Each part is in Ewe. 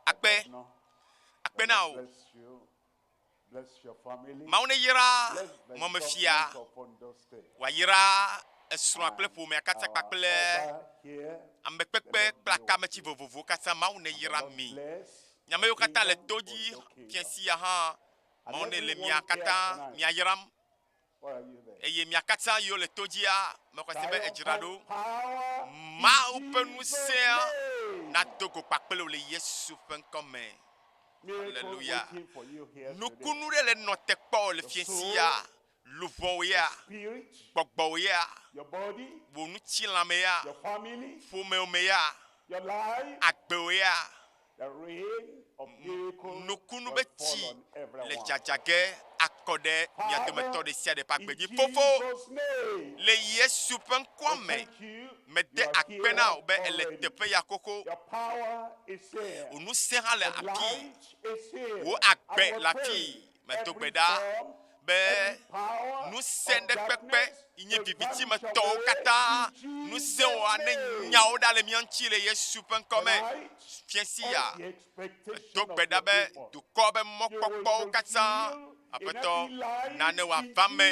Akpe, akpe na wò. Mawu neyra mɔmefia wòayra esrɔ̃a kple ƒomea katã kpakple ame kpekpe kple akameti vovovowo katã. Mawu neyra mi. Mi ame yiwo katã le to dzi fia sia hã Mawu nele mia katã mia yram. Eye mia katã yiwo le to dzia, mexɔ se be edzra ɖo. Mawu ƒe ŋusẽa nado go kpakple wò le Yesu ƒe ŋkɔ me. Aleluya. Nukunu ɖe le nɔ te kpɔ le fiẽ sia, luʋɔwò ya, gbɔgbɔwò ya, wò ŋutilã me ya, ƒomewò me ya, agbewò ya. Nukunu be tsi le dzadza ge akɔ ɖe mia dometɔ ɖe sia ɖe ƒe agbe dzi. Fofo, le Yesu ƒe ŋkɔ me, mede akpe na wò be èle teƒe ya xoxo. Wò ŋusẽ hã le afii. Wò agbe le afii. Medo gbe ɖa be ŋusẽɖekpekpe yi nye viviti me tɔwo katã ŋusẽwo ane nyawo ɖa le mía ŋuti le Yesu ƒe ŋkɔ me. Fiasi ya, medo gbe ɖa be dukɔ be mɔkpɔkpɔwo katã, Aƒetɔ, nane wòava me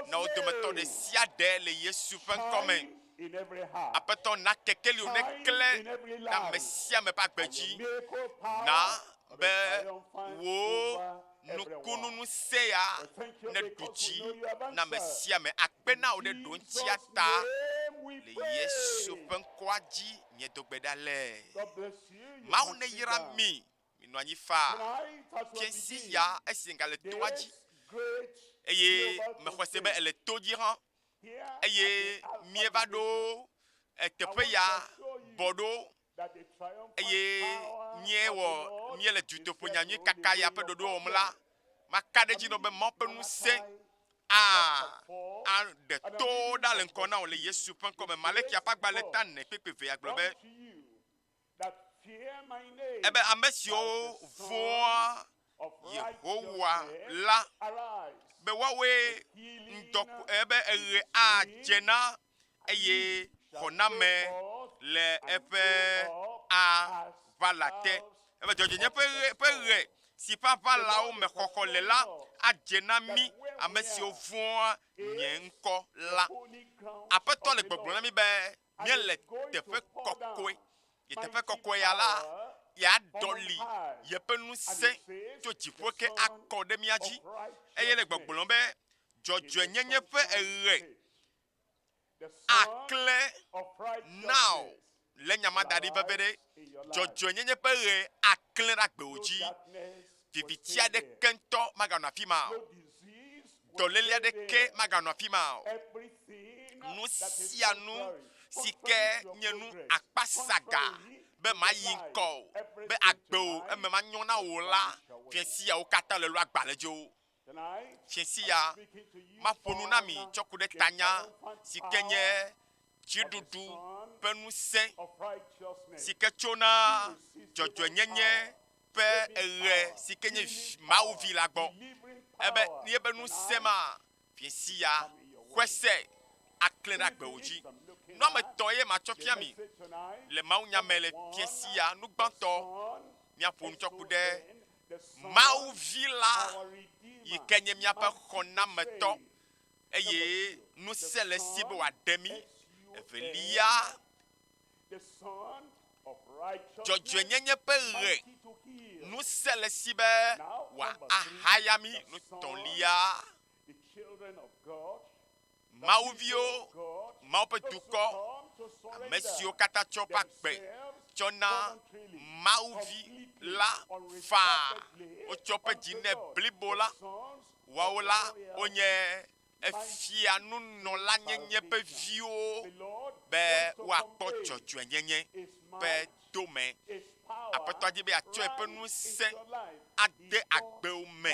na wo dometɔ ɖe sia ɖe le Yesu ƒe ŋkɔ me. Aƒetɔ, na kekeliwò neklẽ ɖe ame sia ame ƒe agbe dzi. Na be wò nukunuŋusẽ ya neɖu dzi na ame sia ame. Akpe na wò ɖe ɖoŋtsia ta. Le Yesu ƒe ŋkɔa dzi miedo gbe ɖa le. Mawu neyra mi. Minɔ anyi faa. Fiẽsi ya esi egale toa dzi eye mexɔse be ele to dzi hã eye míeva ɖo teƒe ya bɔ ɖo eye míewɔ míele dutoƒo nyanyui kaka ya ƒe ɖoɖo wɔm la, maka ɖe edzi nɔ be Mawu ƒe ŋusẽ aɖe to ɖa le ŋkɔ na wò le Yesu ƒe ŋkɔ me. Malexia ƒe agbalẽ ta nɛ kpekpe evea gblɔ be. Ebe ame siwo vɔ̃a Yehowa la, be woawoe ŋdɔ ebe eɣe adze na eye xɔname le eƒe aʋala te. Ebe dzɔdzɔenye ƒe ɣe, ƒe ɣe si ƒe aʋalawo me xɔxɔ le la adze na mí ame siwo vɔ̃a nye ŋkɔ la. Aƒetɔ le gbɔgblɔm na mí be. míele teƒe kɔkɔe. Ye teƒe kɔkɔe ya la, yeaɖɔli yeƒe ŋusẽ tso dziƒo ke akɔ ɖe mía dzi, eye le gbɔgblɔm be dzɔdzɔenyenye ƒe eɣe aklẽ na wò. Lé nya ma da ɖi veviɖe, dzɔdzɔenyenye ƒe ɣe aklẽ ɖe agbewò dzi. Viviti aɖeke ŋutɔ maganɔ afi ma o. Dɔléle aɖeke maganɔ afi ma o. Nu sia nu si ke nye nu akpasaga be mayi ŋkɔ o, be agbe o, eme manyɔ na wò la, fia siawo katã le lɔagbalẽdzi wo. Ɣleti ya maƒo nu na mi tsɔ ku ɖe tanya si ke nye Dziɖuɖu ƒe Ŋusẽ si ke tsona dzɔdzɔenyenye ƒe eɣe si ke nye Mawu Vi la gbɔ. Ebe yeƒe ŋusẽ ma ɣleti ya ƒe se aklẽ ɖe agbewo dzi. Nɔame etɔ̃ ye matsɔ fia mi le mawunya me le ɣleti ya. Nugbãtɔ, míaƒo nu tsɔ ku ɖe Mawu Vi la yi ke nye míaƒe xɔnametɔ eye ŋusẽ le esi be wòaɖe mí. Evelia, dzɔdzɔenyenye ƒe ʋe, ŋusẽ le esi be wòahaya mí. Nutɔ̃lia, Mawu viwo, Mawu ƒe dukɔ, ame siwo katã tsɔ ƒe agbe tsɔ na Mawu vi la faa, wotsɔ ƒe dzi nɛ blibo la, woawo la wonye efia nunɔla nyenye ƒe viwo be woakpɔ dzɔdzɔe nyenye ƒe dome. Aƒetɔa di be atsɔe ƒe ŋusẽ ade agbewo me.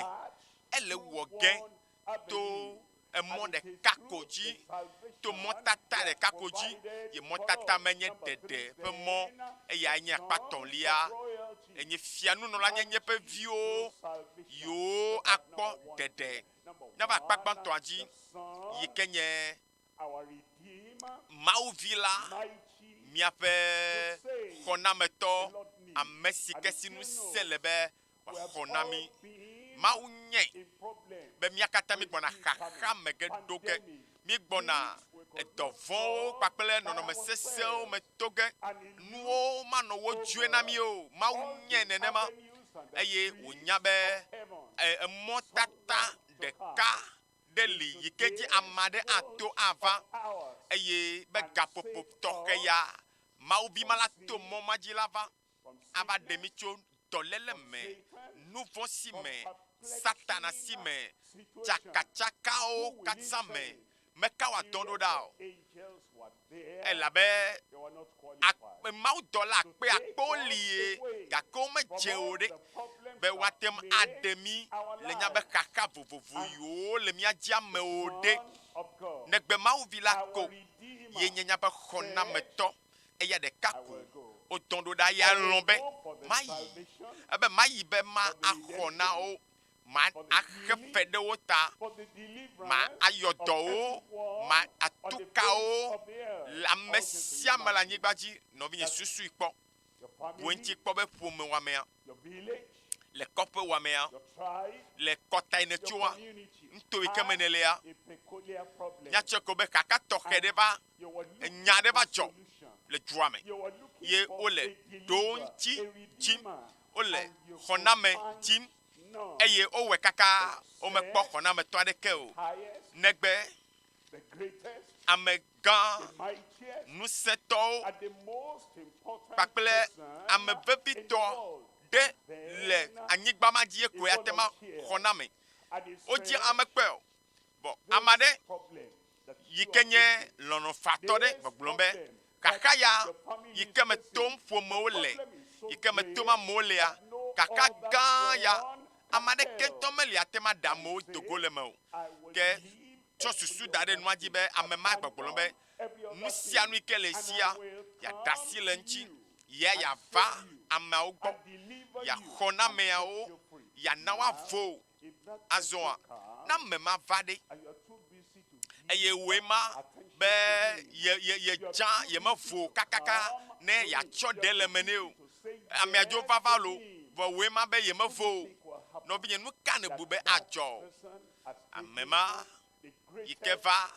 Ele wɔ ge to emɔ ɖeka ko dzi, to mɔtata ɖeka ko dzi, ye mɔtata menye ɖeɖe ƒe mɔ, eyae nye akpatɔ̃lia, enye fianunɔlanyenye ƒe viwo, yiwo akpɔ ɖeɖe na va akpa gbãtɔa dzi, yi ke nye Mawu Vi la, miaƒe xɔnametɔ, ame si ke si ŋusẽ le be xɔ na mí. Mawu nyɛ be mía katã mígbɔna xaxa me ge ɖo ge. Míegbɔna edɔ vɔ̃wo kpakple nɔnɔme sesẽwo me to ge. Nuwo manɔ wo dzɔe na mí o. Mawu nyɛ nenema eye wònya be emɔtata ɖeka ɖe li yi ke dzi ame aɖe ato ava eye be gaƒoƒo tɔxɛ ya Mawu Vi ma la to mɔ ma dzi la va. ava ɖe mí tso dɔléle me, nuvɔ̃ si me, Satana si me, tsakatsakawo katã me. Meka wɔ dɔ ɖo ɖa o. Elabe akpe, mawudɔla akpe akpewo li ye, gake womedze o ɖe be woate ŋu aɖe mí le nya be xaxa vovovo yiwo le mía dzi ame o ɖe, negbe Mawu Vi la ko ye nye nyaƒe xɔnametɔ. eya ɖeka ko wodɔ ɖo ɖa, eya lɔ̃ be mayi, ebe mayi be ma axɔ na wo, ma axe fe ɖe wo ta, ma ayɔ dɔ wo, ma atu ka wo, le ame sia me le anyigba dzi, nɔvinye susui kpɔ, bu eŋuti kpɔ be ƒome wɔamea, le kɔƒe wɔamea, le kɔta yi nètsoa, nuto yi ke me nèlea, míatsɔe ko be xaxa tɔxɛ ɖe va enya aɖe va dzɔ le dua me ye wole ɖowo ŋuti dim, wole xɔname dim eye wowɔe kaka womekpɔ xɔnametɔ aɖeke o negbe amegã ŋusẽtɔwo kpakple ame vevitɔ ɖe le anyigba ma dzi ye koe ate ma xɔname. Wodze amekpe o. Vɔ ame aɖe yi ke nye lɔlɔ̃fatɔ ɖe gbɔgblɔ be, Xaxa ya yi ke me tom ƒomewo le, yi ke me tom amewo lea, xaxa gã ya, ame aɖeke ŋutɔ meli ate ŋu aɖe amewo do go le eme o. Ke tsɔ susu da ɖe nua dzi be ame ma gbɔgblɔ be, Nu sia nu yi ke le esia, yeaɖe asi le eŋuti, ye yeava ameawo gbɔ, yeaxɔ na ameawo, yeana woavo Azɔa, ne ame ma va ɖe, eye wòe ma be yedza, yemevo kakaka ne yeatsɔ ɖe le me nɛ o. Amea dzo vava lo, vɔ wòe ma be yemevo o. Nɔvinye, nu ka nèbu be adzɔ? Ame ma yi ke va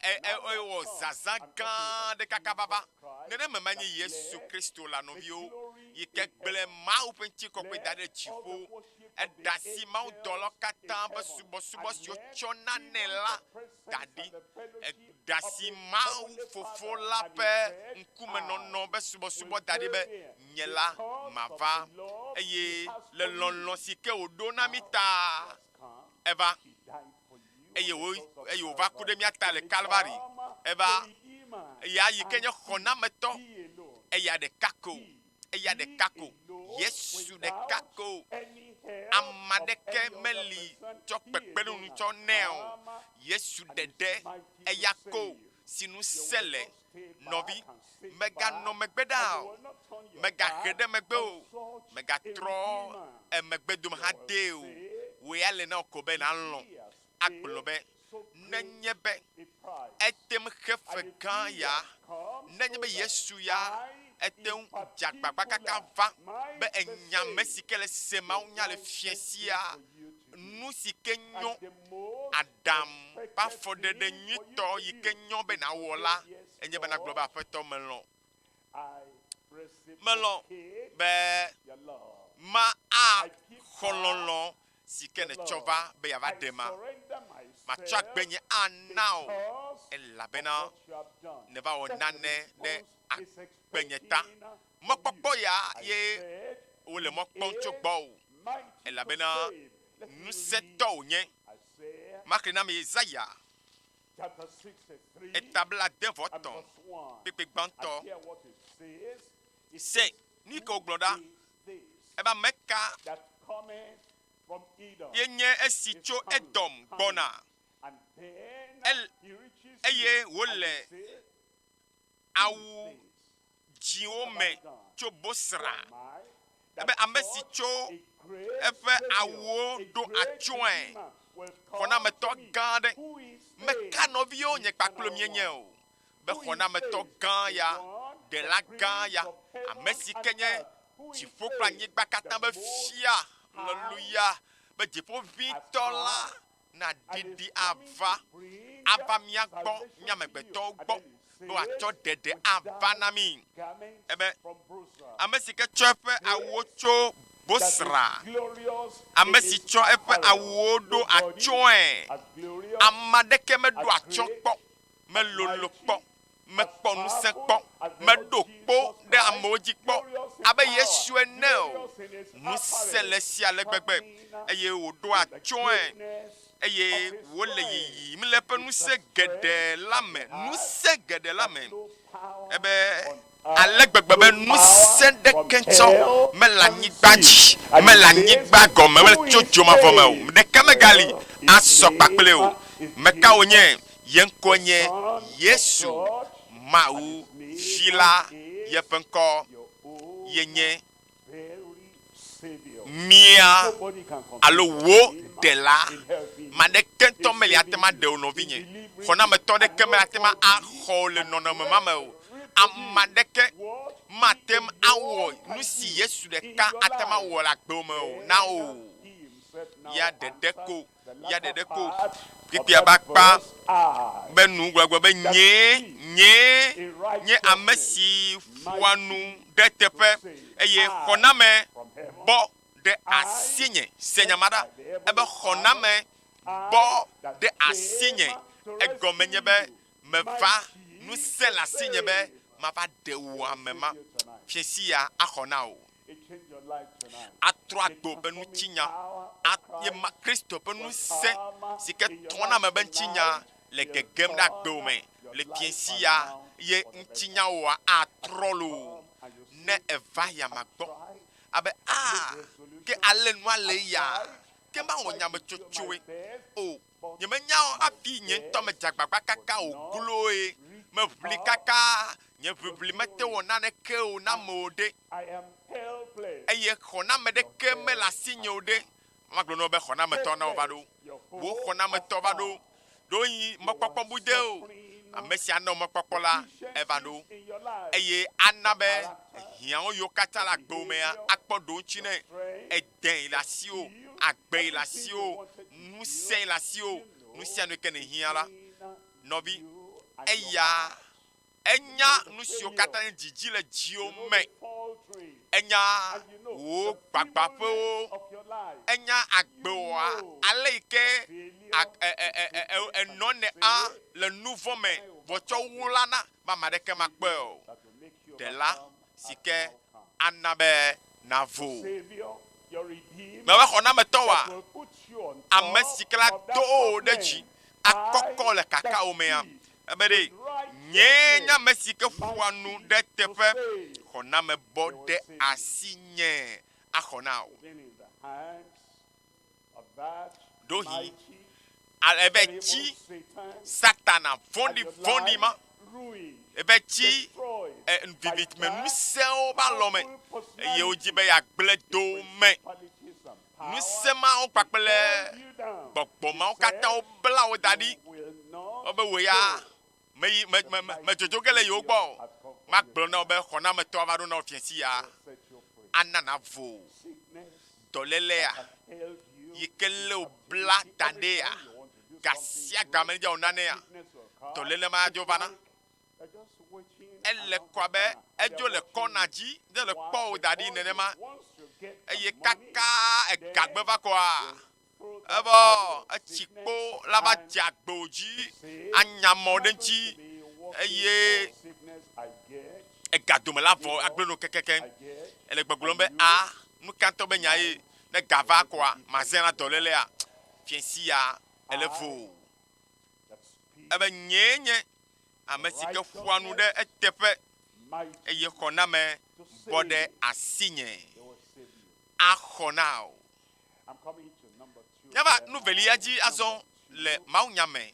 ewɔ zazã gã ɖe kaka vava. Nenema ma nye Yesu Kristo la, nɔviwo, yi ke gblẽ Mawu ƒe ŋutikɔkɔe da ɖe dziƒo. Eɖe asi mawudɔlɔ katã ƒe subɔsubɔ si wotsɔ na nɛ la da ɖi. Eɖe asi Mawu Fofo la ƒe ŋkumenɔnɔ ƒe subɔsubɔ da ɖi be, Nye la, mava. Eye le lɔlɔ̃ si ke wòɖo na mí ta eva. eye wo eye wòva ku ɖe mía ta le Kalvari. Eva eya yi ke nye xɔnametɔ, eya ɖeka ko, eya ɖeka ko, Yesu ɖeka ko. Ame aɖeke meli tsɔ kpekpeɖeŋu tsɔ nɛ o. Yesu ɖeɖe eya ko si ŋusẽ le Nɔvi, mèganɔ megbe ɖaa o, mègahe ɖe megbe o, mègatrɔ emegbe dome hadee o. Wò ya le na wò ko be nàlɔ̃ agblɔ be, Nenye be ete ŋu xe fe gã ya, nenye be Yesu ya ete ŋu dze agbagba kaka va be enya ame si ke le se mawunya le fiẽ sia, nu si ke nyo aɖe ɖam ƒe afɔɖeɖe nyuitɔ yi ke nyɔ be nàwɔ la, enye be nàgblɔ be, Aƒetɔ, melɔ̃. Melɔ̃ be maxɔ lɔlɔ̃ si ke nètsɔ va be yeava ɖem ma. Matsɔ agbe nye ana wò elabena nèva wɔ nane ɖe agbenye ta. Mɔkpɔkpɔ ya ye wole mɔ kpɔm tso gbɔwò elabena ŋusẽtɔ wònye. Maxlẽ na mi Yesaya eta blaade vɔ tɔ̃ kpekpe gbãtɔ. Se nu yi ke wògblɔ ɖa. Ebe ame ka ye nye esi tso Edom gbɔna eye wòle awu dzĩwo me tso Bosra, ebe ame si tsɔ eƒe awuwo ɖo atsyɔ̃e, xɔnametɔ gã aɖe. Meka nɔviwo nye kpakple mienye o, be xɔnametɔ gã ya, Ɖela gã ya, ame si ke nye dziƒo kple anyigba katã ƒe Fia, aleluya, be Dziƒoʋĩtɔ la, naɖiɖi ava ava mía gbɔ, mí amegbetɔwo gbɔ, be wòatsɔ ɖeɖe ava na mí. Ebe ame si ke tsɔ eƒe awuwo tso Bosra, ame si tsɔ eƒe awuwo ɖo atsyɔ̃e, ame aɖeke meɖo atsyɔ̃ kpɔ, melolo kpɔ mekpɔ ŋusẽ kpɔ, meɖo kpo ɖe amewo dzi kpɔ abe Yesu ene o. Ŋusẽ le sia le gbegbe, eye wòɖo atsyɔ̃e, eye wòle yiyim le eƒe ŋusẽ geɖe la me, ŋusẽ geɖe la me, ebe ale gbegbe be ŋusẽ ɖeke tsɔ mele anyigba dzi, mele anyigba gɔme, mele tso dzomavɔ me o, ɖeke megali asɔ kpakple ye o. Meka wònye Ye ŋkɔe nye Yesu, Mawu Vi la yeƒe ŋkɔ ye nye mía alo wò Ɖela. Ame aɖeke ŋutɔ meli ate ŋu aɖe wò, nɔvinye. Xɔnametɔ aɖeke meli ate ŋu axɔ wò le nɔnɔme ma me o. Ame aɖeke mate ŋu awɔ nu si Yesu ɖeka ate ŋu awɔ le agbewò me o na wò o. Ya ɖeɖe ko. ya ɖeɖe ko kpekpea ba kpa be nu gblɔgblɔ be nyee, nyee nye ame si ƒoa nu ɖe teƒe eye xɔname bɔ ɖe asinye. Se nya ma ɖa, ebe xɔname bɔ ɖe asinye. Egɔme nye be meva ŋusẽ le asinye be mava ɖe wò ame ma. Fiẽ sia axɔ na wò. atrɔ agbe woƒe ŋutinya, eye Kristo ƒe ŋusẽ si ke trɔna na ame ƒe ŋutinya le gegem ɖe agbewò me le fiẽ sia, eye ŋutinyawòa atrɔ loo ne èva yame gbɔ. Abe, Aa, ke ale nua le eya, ke mawɔ nyametsotsoe o. Nyemenya o hafi nye ŋutɔ medze agbagba kaka o gloe, meʋli kaka, nye ʋiʋli mete wɔ naneke o na ame o ɖe, eye xɔname aɖeke mele asinye o ɖe, magblɔ na wò be, Xɔnametɔ, na wòva ɖo. Wò xɔnametɔ va ɖo. Ɖewohĩ mɔkpɔkpɔ bu de o. Ame si ana wò mɔkpɔkpɔ la, eva ɖo, eye ana be hiãwo yiwo katã le agbewò mea akpɔ ɖoŋuti nɛ. dee le asiwò, agbee le asiwò, ŋusẽe le asiwò, nu sia nu yi ke nèhiã la, nɔvi, eya enya nu siwo katã dzidzi le dziwò me, enya wò gbagbãƒewo, enya agbewòa, ale yi ke enɔnɛa le nuvɔ̃ me vɔ tsɔ wu la na, be ame aɖeke makpɔe o. Ɖela, si ke ana be nàvo. Mewɔxɔnametɔa, ame si ke la do wò ɖe dzi akɔkɔ le kakawòmea, ebe ɖe nyee nye ame si ke ƒoa nu ɖe teƒe xɔnamebɔ ɖe asinye axɔ na wò. Ɖohi ale be tsi Satana vɔ̃ɖi vɔ̃ɖi ma ebe tsi e, viviti me ŋusẽwo ƒe alɔ me eye wodzi be yeagblẽ do wo me. Ŋusẽ mawo kpakple gbɔgbɔ mawo katã wobla wo da ɖi. Wobe wò ya meyi me, me, me, medzodzo ge le yewo gbɔ o. Magblɔ na wò be xɔnametɔ ava ɖo na wò fiasi ya, ana nàvo dɔlélea yi ke lé wò bla ta ɖea, ga sia ga me dza nanea, dɔléle ma adzo va na. Ele kɔ abe edzo le kɔna dzi ne le kpɔ wò da ɖi nenema. Eye kaka egagbe va kɔa, Evɔ etsi kpo la va dze agbo dzi anya mɔ ɖe ŋuti eye ega dome la vɔ agblẽ no kekeke. Ele gbɔgblɔm be a nu ka ŋutɔ be nya ye ne ga va kɔa mazẽ na dɔlélea fiesi ya ele voo. Ebe nyee nye ame si ke ƒoa nu ɖe eteƒe eye xɔname bɔ ɖe asinye axɔ na wò. Míava nu velia dzi azɔ le mawunya me.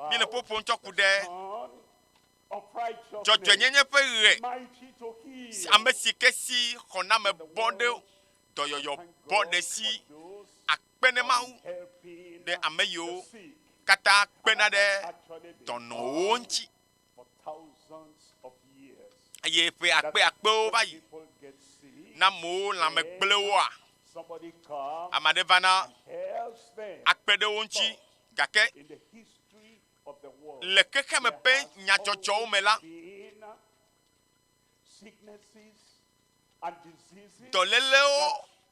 Míele ƒo ƒom tsɔ ku ɖe dzɔdzɔenyenye ƒe ɣe, ame si ke si xɔname bɔ ɖe dɔyɔyɔ bɔ ɖe si akpe ne Mawu ɖe ame yiwo katã kpena ɖe dɔnɔwo ŋuti eye ƒe akpe akpewo va yi na mowo lãme gblẽ woa? Ame aɖe va na akpe ɖe wo ŋuti, gake le xexeme ƒe nyadzɔdzɔwo me la, dɔlélewo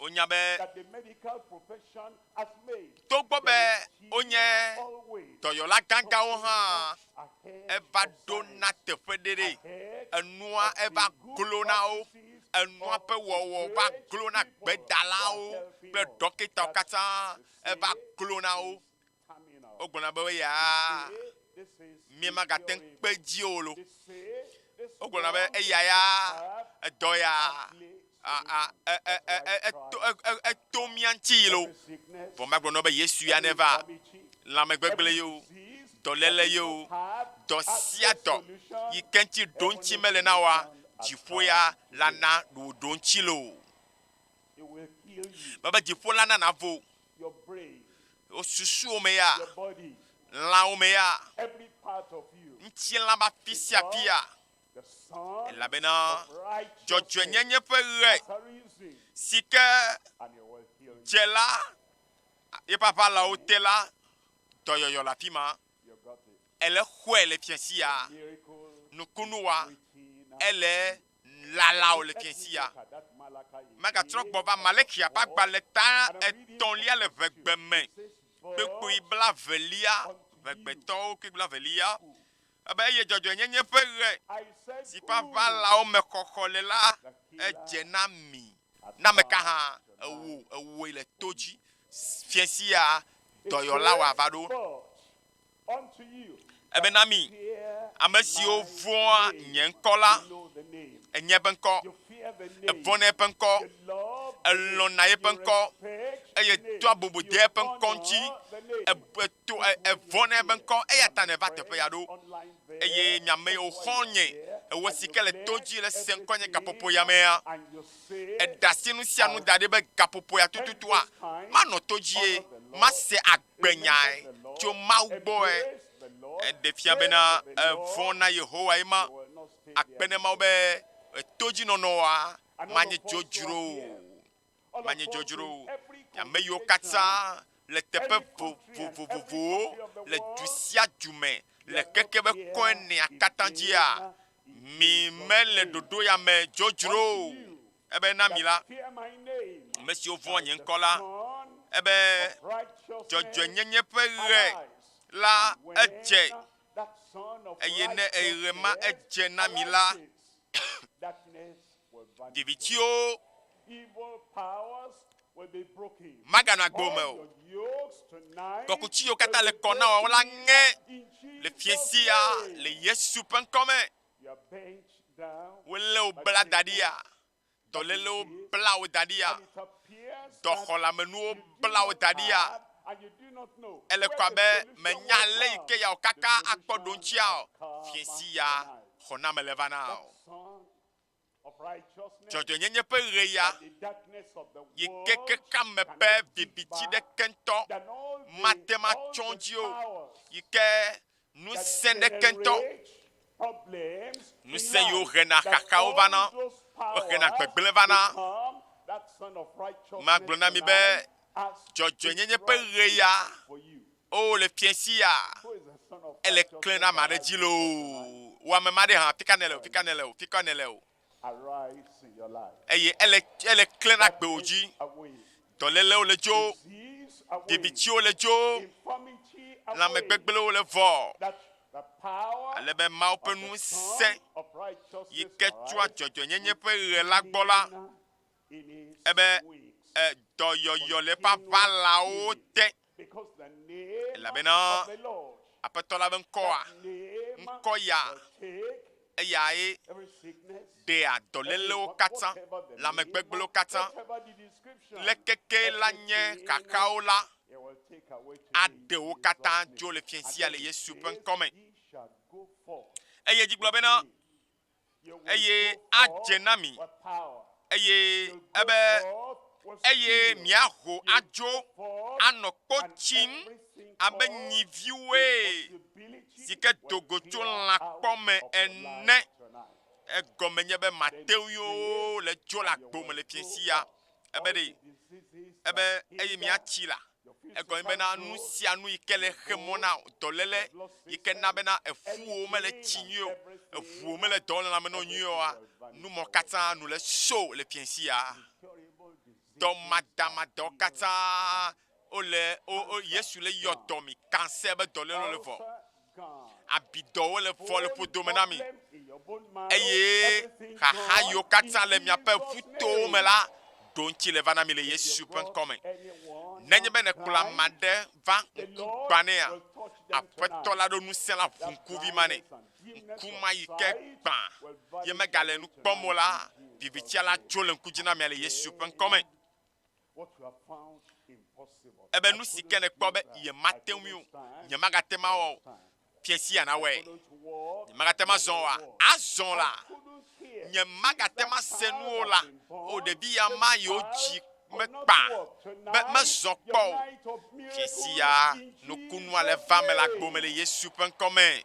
Wonya be togbɔ be wonye dɔyɔla gãgãwo hã, eva ɖo na teƒe ɖe ɖe. Enua eva glo na wo. Enua ƒe wɔwɔ va glo na gbedalawo kple ɖɔkitawo katã eva glo na wo. Wogblɔna be eyaa miemagate ŋu kpe edzi o lo. Wogblɔna be eya ya edɔ ya eto mía ŋuti yi lo. Vɔ magblɔ nɔ be Yesu ya neva lãmegbegblẽ ye o, dɔléle ye o, dɔ sia dɔ yi ke ŋuti ɖoŋuti mele na woa, dziƒo ya lana ɖoɖoŋuti lo. Mebe dziƒo la nana vo wò susuwo me ya, lãwo me ya, ŋutilã ƒe afi sia afi ya, elabena dzɔdzɔenyenye ƒe ɣe si ke dze la, eƒe aʋalawo te la, dɔyɔyɔ le afi ma. Ele xɔe le fiasia, nukunu wa ele. Nulalao le fiẽ sia megatrɔ gbɔ va Malexia ƒe agbalẽ ta etɔ̃lia le ʋegbe me kpekpui blaevelia, ʋegbetɔwo kpekpui blaevelia, ebe eye dzɔdzɔenyenye ƒe ɣe si ƒe aʋalawo me xɔxɔ le la edze na mi. Na ameka hã ewò ewòe le to dzi fiẽ sia dɔyɔla wòava ɖo. Ebe na mi, ame siwo vɔ̃a nye ŋkɔ la, enye eƒe ŋkɔ, evɔ̃na eƒe ŋkɔ, elɔ̃na eƒe ŋkɔ, eye doa bubu dea eƒe ŋkɔ ŋuti, eto evɔ̃na eƒe ŋkɔ, eya ta nèva teƒe ya ɖo. Eye mi ame yiwo xɔ nye ewe si ke le to dzi le se ŋkɔnye gaƒoƒo ya mea, èɖe asi nu sia nu da ɖi be gaƒoƒo ya tututua manɔ to dzie, mase agbe. gbe nyae tso Mawu gbɔe. Eɖe fia bena vɔ̃ na Yehowae ma akpe ɖe Mawu be to dzi nɔnɔa manye dzodzro o, manye dzodzro o. Ame yiwo katã le teƒe vovovowo le du sia du me le keke be kɔenea katã dzia, mi mele ɖoɖo ya me dzodzro o. Ebe na mi la, ame siwo vɔ̃a nye ŋkɔ la, ebe dzɔdzɔenyenye ƒe ɣe la edze, eye ne ɣe ma edze na mi la, vivitiwo maganɔ agbo me o. Kɔkuti yiwo katã le kɔ na wɔ la ŋe le fiesia le Yesu ƒe ŋkɔ me. Wolé wo bla da ɖia? Dɔlélewo bla wo da ɖia? Dɔxɔlamenuwo bla wo da ɖia? Ele kɔ abe mènya ale yi ke yeawɔ kaka akpɔ ɖoŋtsia o. Fiẽ si ya xɔname le vana o. dzɔdzɔenyenye ƒe ɣeya yi ke keke ame be viviti ɖeke ŋutɔ mate ŋu atsɔ wo dzi o yi ke ŋusẽ ɖeke ŋutɔ, ŋusẽ yiwo hena xaxawo vana, wohena gbegblẽ vana. Magblɔ na mi be dzɔdzɔenyenye ƒe ɣeya. O, le fiẽ sia, ele klẽ ɖe ame aɖe dzi loo. Wò ame ma ɖe hã, afi ka nèle o, fi ka nèle o, fi ka nèle o. Eye ele, ele klẽ ɖe agbewò dzi. Dɔlélewo le dzo, vivitsiwo le dzo, lãmegbegblẽwo le vɔ, ale be Mawu ƒe ŋusẽ yi ke tsoa dzɔdzɔenyenye ƒe ɣe la gbɔ la, ebe dɔyɔyɔ le eƒe aʋalawo te, elabena Aƒetɔ la ƒe ŋkɔa, ŋkɔ ya, eyae ɖea dɔlélewo katã, lãmegbegblẽwo katã, leke ke la nye xaxawo la, aɖe wo katã dzo le fiẽ sia le Yesu ƒe ŋkɔ me. Eye edzi gblɔ bena, eye adze na mi, eye ebe eye miaho adzo anɔ kpo tsim abe nyiviwoe si ke do go tso lãkpɔ me ene. Egɔme nye be Mateo yewo le dzo le agbo me le fiẽ sia. ebe ɖe, ebe eye miatsi la, egɔme bena nu sia nu yi ke le xe mɔ na dɔléle yi ke na bena efuwo mele tsi nyuie o, eŋuwo mele dɔ le lãme na wo nyuie oa, nu mɔ katã nu le sho le fiãsia. Dɔmadamadewo katã wole wo, wo Yesu le yɔ dɔ mi kanse be dɔ le le vɔ. Abi dɔwo le vɔ le ƒodo me na mi. Eye xaxa yiwo katã le miaƒe ƒutowo me la ɖo ŋuti le va na mi le Yesu ƒe ŋkɔ me. Nenye be nekplɔ ame aɖe va ŋkugba nea, Aƒetɔ la ɖo ŋusẽ la ʋu ŋkuvi ma nɛ. Ŋku ma yi ke gbã ye megale nu kpɔm o la, vivitsia la tso le ŋku dzi na mia le Yesu ƒe ŋkɔ me. Ebe nu si ke nèkpɔ be nyemate ŋui o, nyemagate ŋu awɔ o, Fiẽ sia nawɔe. Nyemagate ŋu azɔ oa? Azɔ la, nyemagate ŋu ase nu o la, o, ɖevi ya ma yewo dzi mekpa be mezɔ kpɔ o. Fiẽ sia nukunu ale va eme le agbo me le Yesu ƒe ŋkɔ me.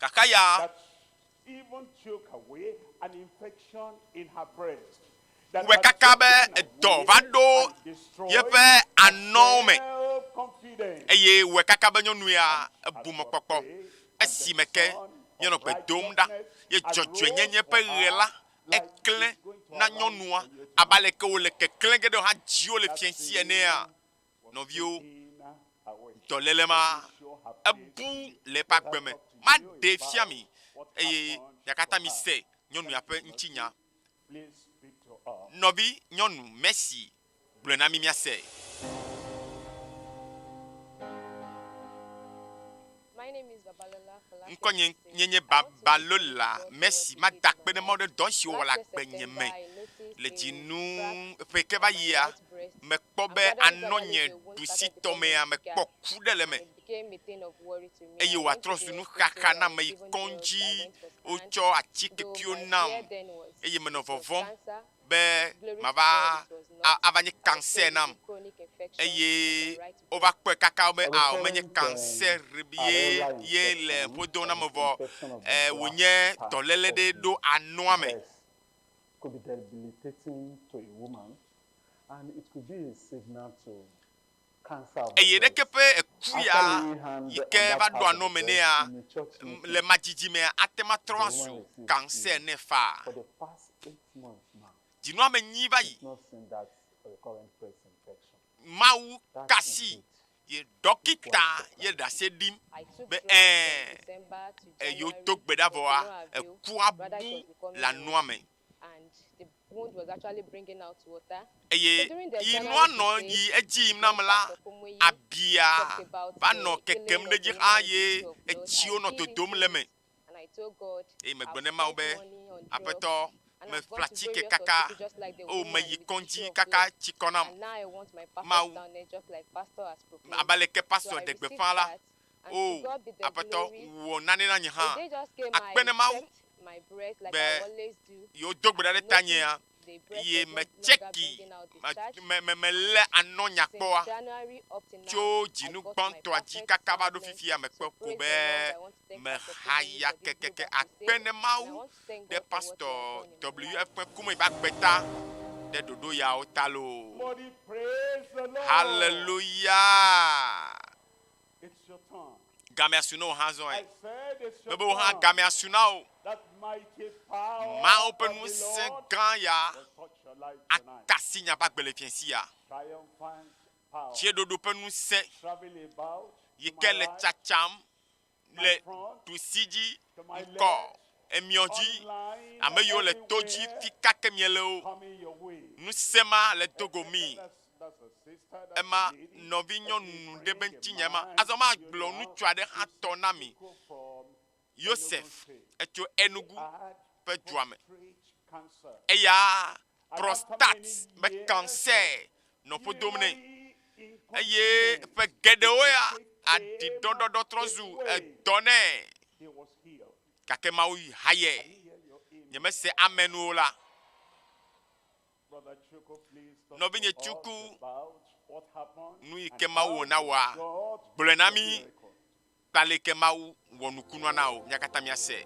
Gake ya wɔe kaka be edɔ va ɖo yeƒe anɔwo me, eye wɔe kaka be nyɔnu ya ebu mɔkpɔkpɔ esime ke míenɔ gbe dom ɖa. Ye dzɔdzɔenyenye ƒe ʋe la, eklẽ na nyɔnua abe aleke wòle keklẽ ge ɖe hã dziwò le fiẽ si enea? Nɔviwo, dɔléle ma ebu le eƒe agbe me. Maɖee fia mi, eye miakatã mise nyɔnu ya ƒe ŋutinya. Nɔvi nyɔnu Mercy, gblɔe na mi miase. Ŋkɔnye nye nye Babalola Mercy. Mada akpe ɖe Mawu ɖe dɔ si wòwɔ le agbenye me le dzinu ƒe ke va yia. Mekpɔ be anɔ nye ɖusitɔmea, mekpɔ ku ɖe le eme eye wòatrɔ zu nuxaxa nam. Meyi kɔdzi, wotsɔ atikekewo nam eye menɔ vɔvɔ̃m. be mava a, ava nye kansɛr nam. Eye wova kpɔe kaka be ao menye kansɛr ye ye le ƒodo na me vɔ, e, wònye dɔléle ɖe ɖo anɔa me. eye ɖeke ƒe eku ya yi ke va ɖoa nɔ me nɛa, le ma didi mea, ate ŋu atrɔ azu kansɛ ene faa. Dzinɔame nyui va yi. Mawu kasi ye ɖɔkita ye ɖase ɖim be ẽ, eye wodo gbe ɖa vɔa, ekua bu le anua me. Eye yi nua nɔ yi edzi yim nam la, abia va nɔ kekem ɖe edzi xa, eye etsiwo nɔ dodom le eme. Eye megblɔ ne Mawu be, Aƒetɔ, meƒle atike kaka, eye meyi kɔdzi kaka tsi kɔ nam. Mawu, abe aleke pastor ɖe gbeƒã la, O, Aƒetɔ, wɔ nane na nye hã. Akpe ne Mawu be yewodo gbe ɖa ɖe tanyea, ye metseki, melé anɔ nyakpɔa tso dzinu gbãtɔa dzi kaka va ɖo fifia mekpɔ ko be mehaya kekeke. Akpe ne Mawu ɖe Pastor WF ƒe ku me va kpe ta ɖe ɖoɖo yawo ta loo. Hallelujah! gamea su na wò hã zɔe. Mebe wò hã gamea su na wò. Mawu ƒe ŋusẽ gã ya atasi nya ƒe agbelefiẽ si ya. Tsieɖoɖo ƒe ŋusẽ yi ke le tsatsam. le ɖusi dzi ŋkɔ emiɔ dzi, ame yiwo le to dzi fi kake miɛ le wo. Ŋusẽ ma le do go mii. Ema nɔvi nyɔnu ɖe be ŋutinye ma. Azɔ ma gblɔ ŋutsu aɖe hã tɔ na mi. Yosef, etso Enugu ƒe dua me. Eyaa. prostate ƒe kansɛ nɔ ƒo dom nɛ eye ƒe geɖewo ya aɖidɔɖɔɖɔ trɔ zu edɔ nɛ. Gake Mawu hayɛ. Nyemese amɛn o la. Nɔvinye Tsuku, nu yi ke Mawu wɔ na wòa, gblɔɛ na mí. kple aleke Mawu wɔ nukunua na wò, mía katã míasee.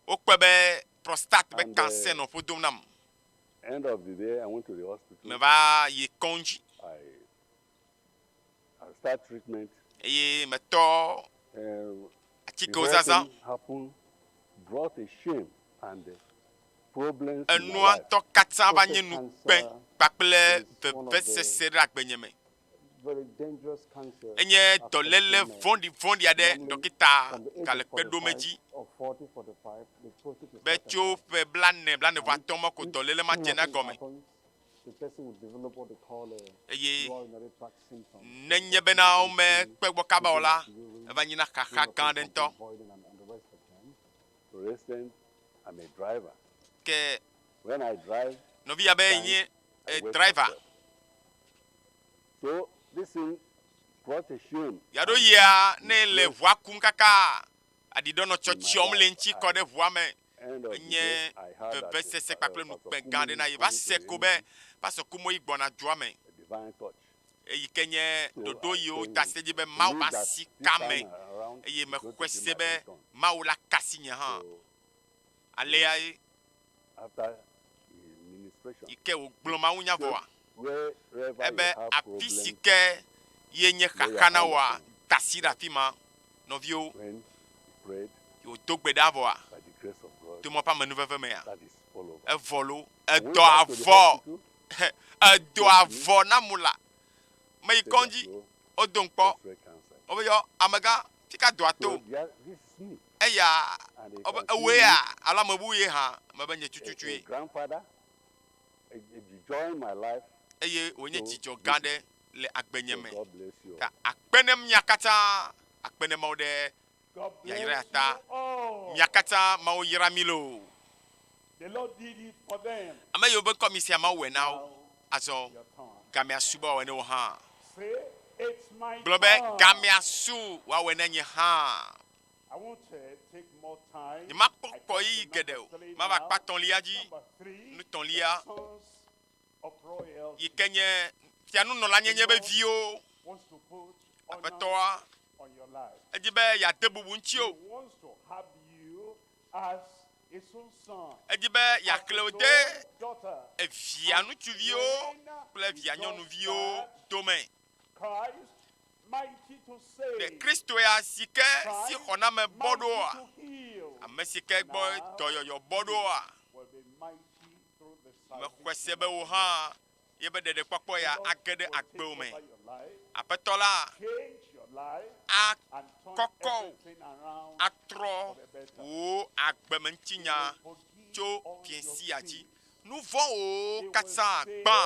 Wokpɔe be prostate ƒe kansɛ nɔ ƒo dom nam. Meva yi kɔŋdzi eye metɔ atikewo zazã. Enua ŋutɔ katã va nye ŋukpe kpakple vevesese ɖe agbenye me. Enye dɔléle vɔ̃ɖivɔ̃ɖi aɖe ɖɔkita gale kpe ɖom edzi be tso ƒe blane blaneatɔ̃ me ko dɔléle ma dzena egɔme eye nenye bena womekpe gbɔ kaba o la, eva nyina xaxa gã aɖe ŋutɔ. Ke nɔvi ya be nye driver. Yaɖo yia ne le ʋua kum kaka aɖiɖɔ nɔ tsɔtsɔm le ŋtsi kɔ ɖe ʋua me. Enye vevesese kpakple nukpe gã aɖe na ye. Va se ko be pastor Kumoyi gbɔna dua me. eyi ke nye ɖoɖo yi woda asi ɖe edzi be Mawu masi ka ame eye mexɔe se be Mawu la ka asi nye hã. Aleae yi ke wògblɔ mawunya vɔa, ebe afi si ke ye nye xaxa na wòa, da asi ɖe afi ma. Nɔviwo, yi wòdo gbe ɖa vɔa, to Mawu ƒe amenuveve mea, evɔ loo, edɔ avɔ. edo avɔ na mu la me yi kɔndzi wodo ŋkpɔ wobe yɔ amegã fika doa to eya wobe ewoe ya alo ame bubu ye hã mebe nye tututu ye eye wònye dzidzɔ gã aɖe le agbenye me ta akpe ne mia katã akpe ne mawo ɖe yayra ta. Mia katã Mawu yra mi loo. Ame yiwo be ŋkɔ mi sia Mawu wɔe na wo. Azɔ gamea su be wòawɔe ne wò hã. Gblɔ be gamea su wòawɔe ne nye hã. Nyemakpɔ kɔɣeyiɣi geɖe o. Mava akpa etɔ̃lia dzi. Nutɔ̃lia yike nye fianunɔlanyenye be viwo. Aƒetɔa. Edi be yeade bubu ŋutiwo. Edi be yeakle wò de evia ŋutsuviwo kple evia nyɔnuviwo dome. Ɖe Kristo ya si ke si xɔname bɔ ɖoa? Ame si ke gbɔ dɔyɔyɔ bɔ ɖoa? Mexɔe se be wò hã ye be ɖeɖekpɔkpɔ ya age ɖe agbewò me. Aƒetɔ la akɔkɔ wò atrɔ wò agbemeŋutinya tso fiẽsia dzi. Nu vɔ̃wò katã gbã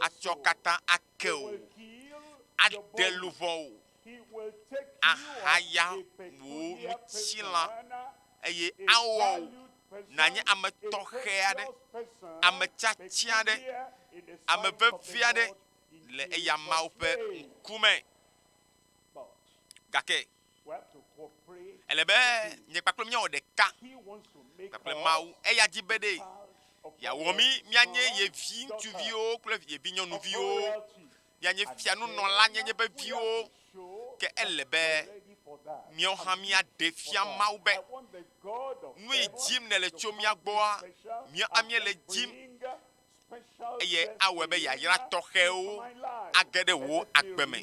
atsɔ katã ake wò, aɖe luʋɔ wò. ahaya wò ŋutilã, eye awɔ wò nànye ame tɔxɛ aɖe, ame tiati aɖe, ame vevi aɖe le eya Mawu ƒe ŋkume. Gake ele be nye kpakple míawɔ ɖeka kpakple Mawu. Eya di be ɖe yeawɔ mí míanye ye viŋutsuviwo kple ye vinyɔnuviwo. mianye fianunɔlanyenye veviwo, ke ele be míawo hã míaɖe fia Mawu be nue dim nèle tso mía gbɔa, míawo hã míele dim eye awɔe be yayra tɔxɛwo age ɖe wò agbe me.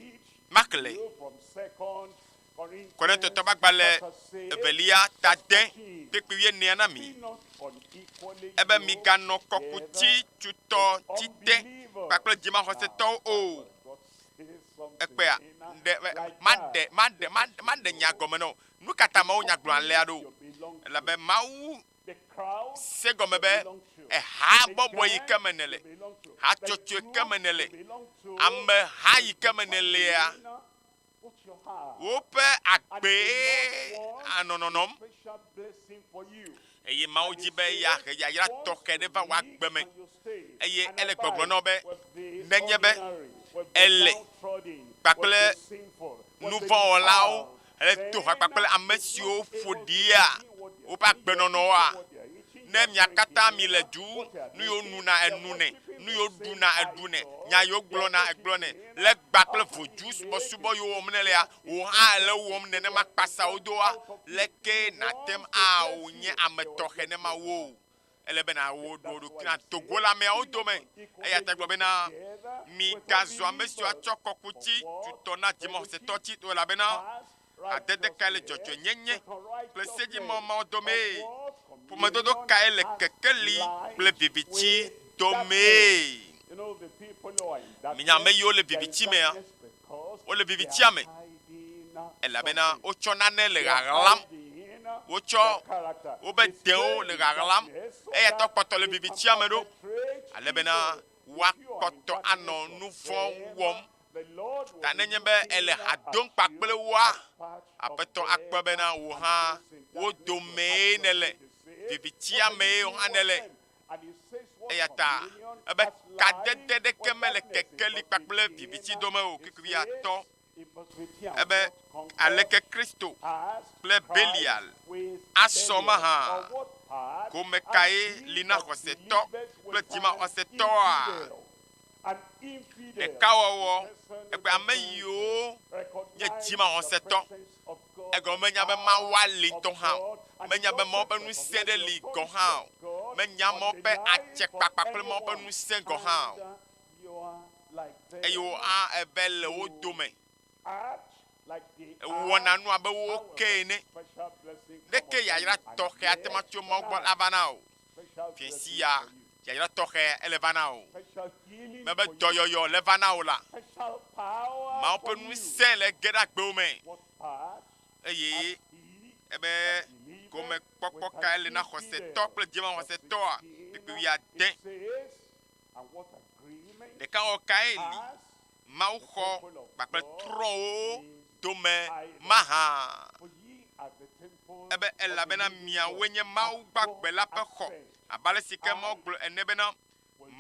Maxlẽ. Korintotɔ ƒe agbalẽ evelia ta de kpekpe wuienea na mi. Ebe miganɔ kɔkuti tutɔ ti te kpakple dzimaxɔsetɔwo o. Ekpea ɖe maɖe maɖe maɖe nya gɔme nɔ. Nu ka ta mawo nya gblɔ alea ɖo? Elabe mawu se gɔme be eha bɔbɔ yi ke me nele, hatsotso ke me nele, ameha yi ke me nelea. woƒe agbee anɔ nɔnɔm eye Mawu di be yeahe yayra tɔxɛ ɖe va wò agbe me eye ele gbɔgblɔ na wò be nenye be èle kpakple nuvɔ̃wɔlawo heto ha kpakple ame siwo ƒo ɖia woƒe agbenɔnɔa, Ne mia katã mi le du, nu yo nu na enu nɛ, nu yo ɖu na eɖu nɛ, nya yo gblɔ na egblɔ nɛ. Le gba kple voju subɔsubɔ yo wɔm nèlea, wò hã èle wo wɔm nenema kpasa wo doa? Leke nàtem ao nye ame tɔxe ne ma wo o? Ele be na wo ɖo ɖoki na Togo le ameawo dome. Eya ta gblɔ be na mi gazu ame siwo atsɔ kɔkuti tutɔ na dzimɔxɔsetɔ tsi to elabena adede kae le dzɔdzɔenyenye kple sedzimawɔ mawo dɔmee? Ƒomedodo kae le kekeli kple viviti dɔmee? Minya ame yiwo le viviti mea? Wole vivitia me elabena wotsɔ nane le ɣaɣlam. Wotsɔ woƒe dewo le ɣaɣlam eyata wokpɔtɔ le vivitia me ɖo ale bena woakpɔtɔ anɔ nu vɔ̃ wɔm Ta nenye be èle ha dom kpakple woa, Aƒetɔ akpɔe bena wò hã wo domee nèle, vivitia mee hã nèle. Eya ta ebe kadede ɖeke mele kekeli kpakple viviti dome o. Kikuviatɔ ebe, Aleke Kristo kple Belial asɔ mahã? Ƒome kae li na xɔsetɔ kple dzimaxɔsetɔa? ɖekawɔwɔ kple ame yiwo nye dzimaxɔsetɔ. Egɔme menya be Mawua li ŋutɔ hã o. Menya be Mawu ƒe ŋusẽ ɖe li gɔ̃ hã o. Menya Mawu ƒe adzekpakpa kple Mawu ƒe ŋusẽ gɔ̃ hã o. Eye wò hã ève le wo dome. Èwɔna nu abe wo ke ene. Ɖeke yayra tɔxɛ ate ŋu atso Mawu gbɔ ava na wò o. Fiẽsia yayra tɔxɛ ele va na wò. Mebe dɔyɔyɔ le va na wò la, Mawu ƒe ŋusẽ le ge ɖe agbewo me eye ebe gɔmekpɔkpɔ kae le na xɔsetɔ kple dzimaxɔsetɔa? Kpekpe wuiade. Ɖekawɔwɔ kae li mawuxɔ kpakple trɔ̃wo dome mahã. Ebe, elabena miawoe nye Mawu gbagbe la ƒe xɔ, abe ale si ke Mawu gblɔ ene bena,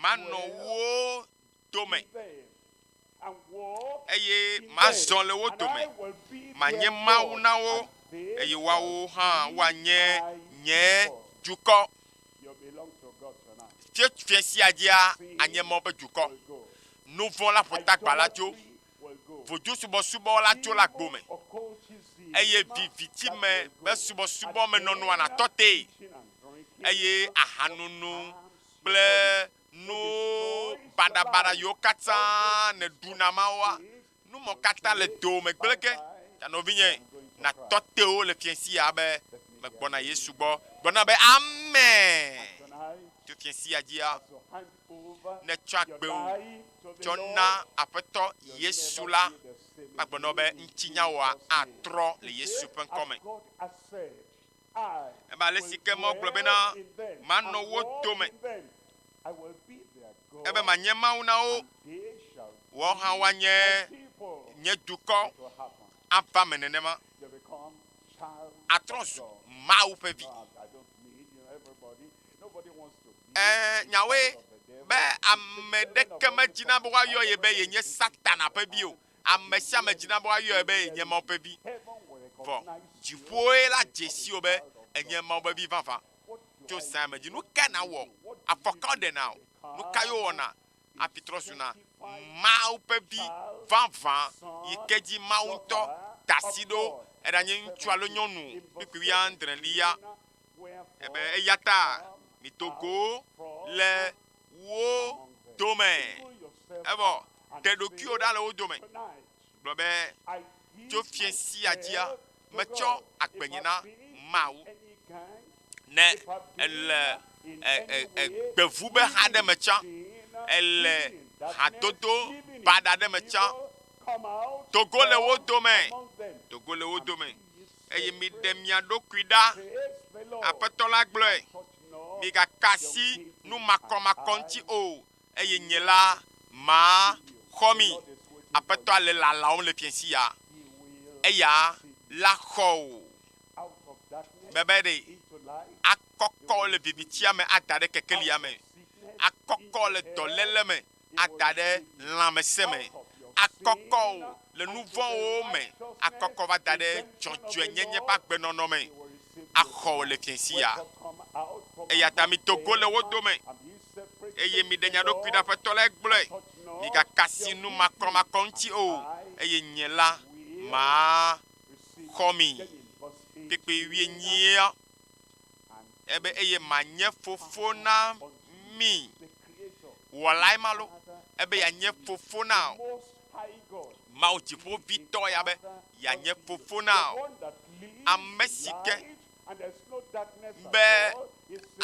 Manɔ wo dome, eye mazɔ le wo dome, manye Mawu na wo, eye woawo hã woanye nye dukɔ. Tso fie sia dzia anye mɔ be dukɔ, nu vɔ̃ la ƒotagba la tso, vodzosubɔsubɔ la tso la gbo me, eye viviti me be subɔsubɔ me nɔnɔa natɔ te, eye ahanono kple nu baɖabaɖa yiwo katã nèɖuna mawoa Nu mɔ katã le doo me gblẽ ge, ta nɔvinye, natɔ te wo le fiẽsia be megbɔna Yesu gbɔ. Gblɔ na be, Ame to fiẽsia dzia, ne tsɔ agbewo tsɔ na Aƒetɔ Yesu la, magblɔ na wo be ŋutinyawoa atrɔ le Yesu ƒe ŋkɔ me. Ebe ale si ke Mawu gblɔ bena, Manɔ wo dome, ebe manye Mawu na wo, woawo hã woanye nye dukɔ ava me nenema. Atrɔ zu Mawu ƒe vi. Ee, nyawoe be ame ɖeke medzina be woayɔ ye be yenye Satana ƒe vi o. Ame sia ame dzina be woayɔe be yenye Mawu ƒe Vi, vɔ dziƒoe la dze sii wò be enye Mawu ƒe Vi vavã tso zãe me dzi. Nu kae nàwɔ? Afɔka woɖe na wò. Nu kae wowɔna hafi trɔ zuna Mawu ƒe Vi vavã yi ke dzi Mawu ŋutɔ da asi ɖo? Eɖanye ŋutsu alo nyɔnu kpukpui wuiadrelia, ebe eya ta mido go le wo dome, evɔ ɖe ɖokuiwò ɖa le wo dome. Gblɔ be, tso fiẽ sia dzia, metsɔ agbenye na Mawu. Ne èle gbevube ha ɖe me tsã, èle hadodo baɖa ɖe me tsã, do go le wo dome, do go le wo dome. eye miɖe mia ɖokui ɖa, Aƒetɔ la gblɔe, migaka asi nu makɔmakɔ ŋuti o, eye nye la, maxɔ mi. Aƒetɔa le lalam le fiẽ sia, eya la xɔ o, be be ɖe akɔkɔ le vivitsia me ada ɖe kekelia me, akɔkɔ le dɔléle me. ada ɖe lãmesẽ me, akɔkɔ o le nu vɔ̃wo me, akɔkɔ va da ɖe dzɔdzɔenyenye ƒe agbenɔnɔ me, axɔ wò le fiẽ sia. Eya ta mido go le wo dome, eye miɖe mia ɖokui ɖe, Aƒetɔ lae gblɔe. Migaka asi nu makɔmakɔ ŋuti o, eye nye la, maxɔ mi. Kpekpe wuienyia. ebe eye manye fofo na mi. Wɔlae ma lo, ebe yeanye fofo na wò. Mawu dziƒovitɔ ya be yeanye fofo na wò. Ame si ke be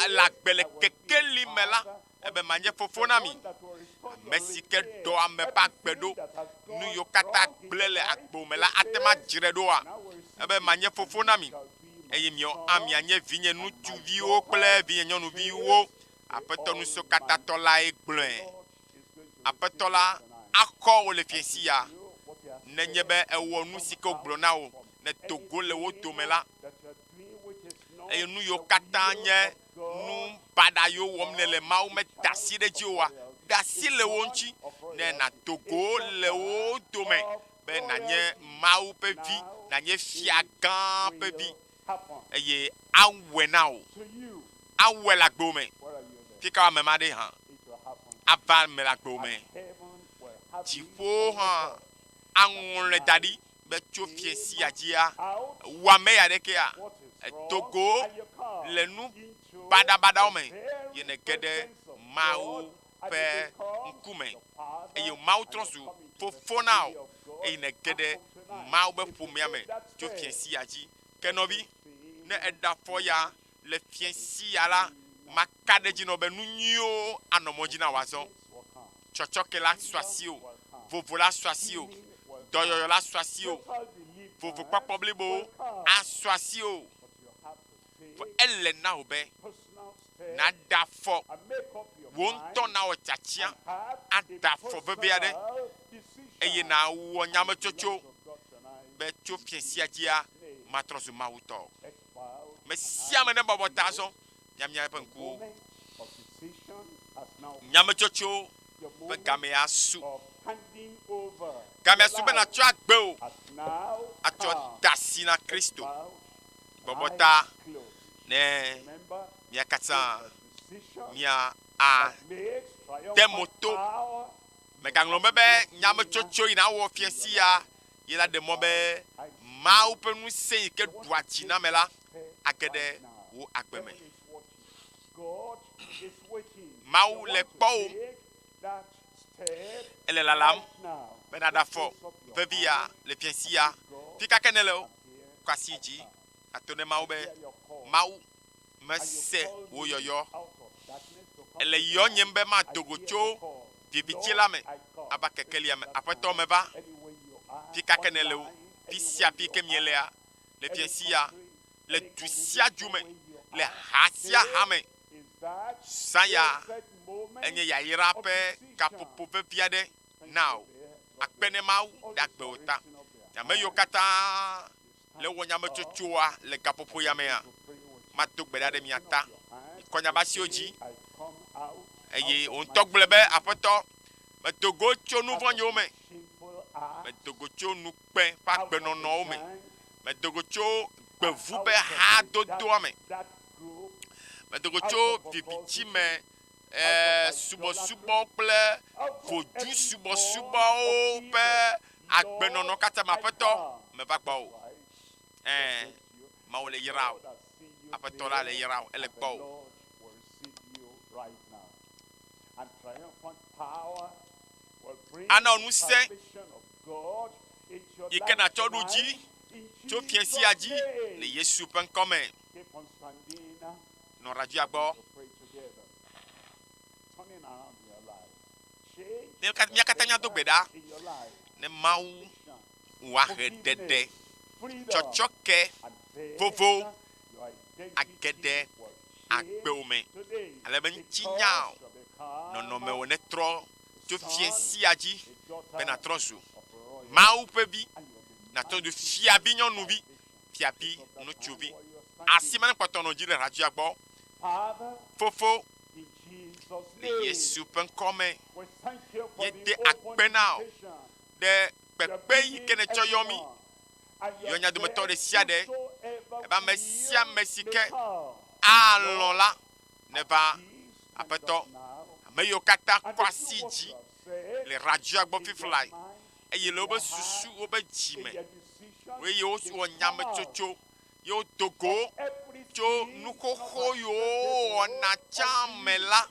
le agbe le kekeli me la ebe manye fofo na mi, ame si ke ɖɔ ame ƒe agbe ɖo. Nu yiwo katã gblẽ le agbo me la ate ŋu adzre ɖoa? Ebe manye fofo na mi, eye miawo hã mianye vinye ŋutsuviwo kple vinye nyɔnuviwo. Aƒetɔ Ŋusẽkatãtɔ lae gblɔe. Aƒetɔ la axɔ wò le fiẽsi ya. Nenye be èwɔ nu si ke wògblɔ na wò, nèdo go le wo dome la, eye nu yiwo katã nye nu baɖa yiwo wɔm nèle Mawu me da asi ɖe edzi oa? De asi le wo ŋuti ne nàdo go le wo dome be nànye Mawu ƒe vi, nànye fia gã ƒe vi, eye awɔe na wò. Awɔe le agbo me. Fi kae ame ma ɖee hã? Ava eme le agbo me. Dziƒo hã aŋlɔe da ɖi. be tso fie sia dzia, wɔame ya ɖekea, edo go le nu baɖabaɖawo me, ye nège ɖe Mawu ƒe ŋkume, eye Mawu trɔ zu fofo na wò, eye nège ɖe Mawu be ƒomea me tso fie sia dzi. Ke nɔvi, ne èɖe afɔ ya le fiẽ si ya la, maka ɖe edzi nɔ be nu nyuiwo anɔ mɔ dzi na wò azɔ. Tsɔtsɔke la su asiwò, vovo la su asiwò, dɔyɔyɔ la su asiwò, vovokpɔkpɔ blibowo asu asiwò. Vɔ ele na wò be nàda afɔ, wò ŋutɔ nawɔ tsatsɛa, ada afɔ vevi aɖe, eye nàwɔ nyametsotso be tso fiẽ sia dzia, matrɔ zu Mawu tɔ. Me sia ame nebɔbɔ ta azɔ miamia eƒe ŋkuwo. Nyametsotso ƒe gamee asu. Gamea su be nàtsɔ agbe o, atsɔ da asi na Kristo. Bɔbɔ ta ne mia katã mia a de mo to. Mègaŋlɔ be be nyametsotso yi nawɔ fia sia ye la ɖe mɔ be Mawu ƒe ŋusẽ yi ke ɖua tsi na ame la age ɖe wò agbe me. Mawu le kpɔwòm, ele lalam be nàɖe afɔ vevi ya le fiasi ya. Fi ka ke nèle o, kɔ asi dzi ato ne Mawu be, Mawu, mese wò yɔyɔ. Ele yɔnyem be mado go tso viviti la me ava kekelia me. Aƒetɔ, meva. Fi ka ke nèle o, fi sia fi ke mielea, le fiẽ sia, le du sia du me, le ha sia ha me, zã ya enye yayra ƒe gaƒoƒo vevi aɖe na wò. Akpe ne Mawu ɖagbe wò ta. Ame yiwo katã le wò nyametsotsoa le gaƒoƒoya mea, mado gbe ɖa ɖe mia ta kɔ nyabasiwo dzi. Eye wò ŋutɔ gblɔe be, Aƒetɔ, medo go tso nu vɔ̃nyiwo me, medo go tso nukpe ƒe agbenɔnɔwo me, medo go tso gbevu ƒe hadodoa me, medo go tso viviti me. subɔsubɔ kple vodzu subɔsubɔwo ƒe agbenɔnɔ katã me aƒetɔ meva gbɔ o ɛɛ mawu le yra o aƒetɔ la le yra o ele gbɔ o. ana ŋu se yi ke nàtsɔ ɖo dzi tso fiasia dzi le yesu ƒe ŋkɔ me nɔ ɖajia gbɔ. Ne mía katã mía do gbe ɖa ne Mawu woahe ɖeɖe tsɔtsɔke vovo age ɖe agbewo me ale be ŋutinya nɔnɔmewo netrɔ tso fie sia dzi be natrɔ zu Mawu ƒe vi, natrɔ zu fiavinyɔnuvi. fiavi ŋutsuvi, asi ma nekpɔtɔ nɔ dzi le hratsua gbɔ. Fofo, le Yesu ƒe ŋkɔ me, yede akpe na ɔ ɖe kpekpe yi ke netsɔ yɔ mi, yɔ nya dometɔ ɖe sia ɖe, ebe ame sia ame si ke alɔ̃ la neva aƒetɔ. Ame yiwo katã kɔ asi dzi le hratsua gbɔ fiflai eye le woƒe susu, woƒe dzi me, eye wowɔ nyametsotso, ye wodo go tso nu xoxo yiwo wowɔna tsã me la,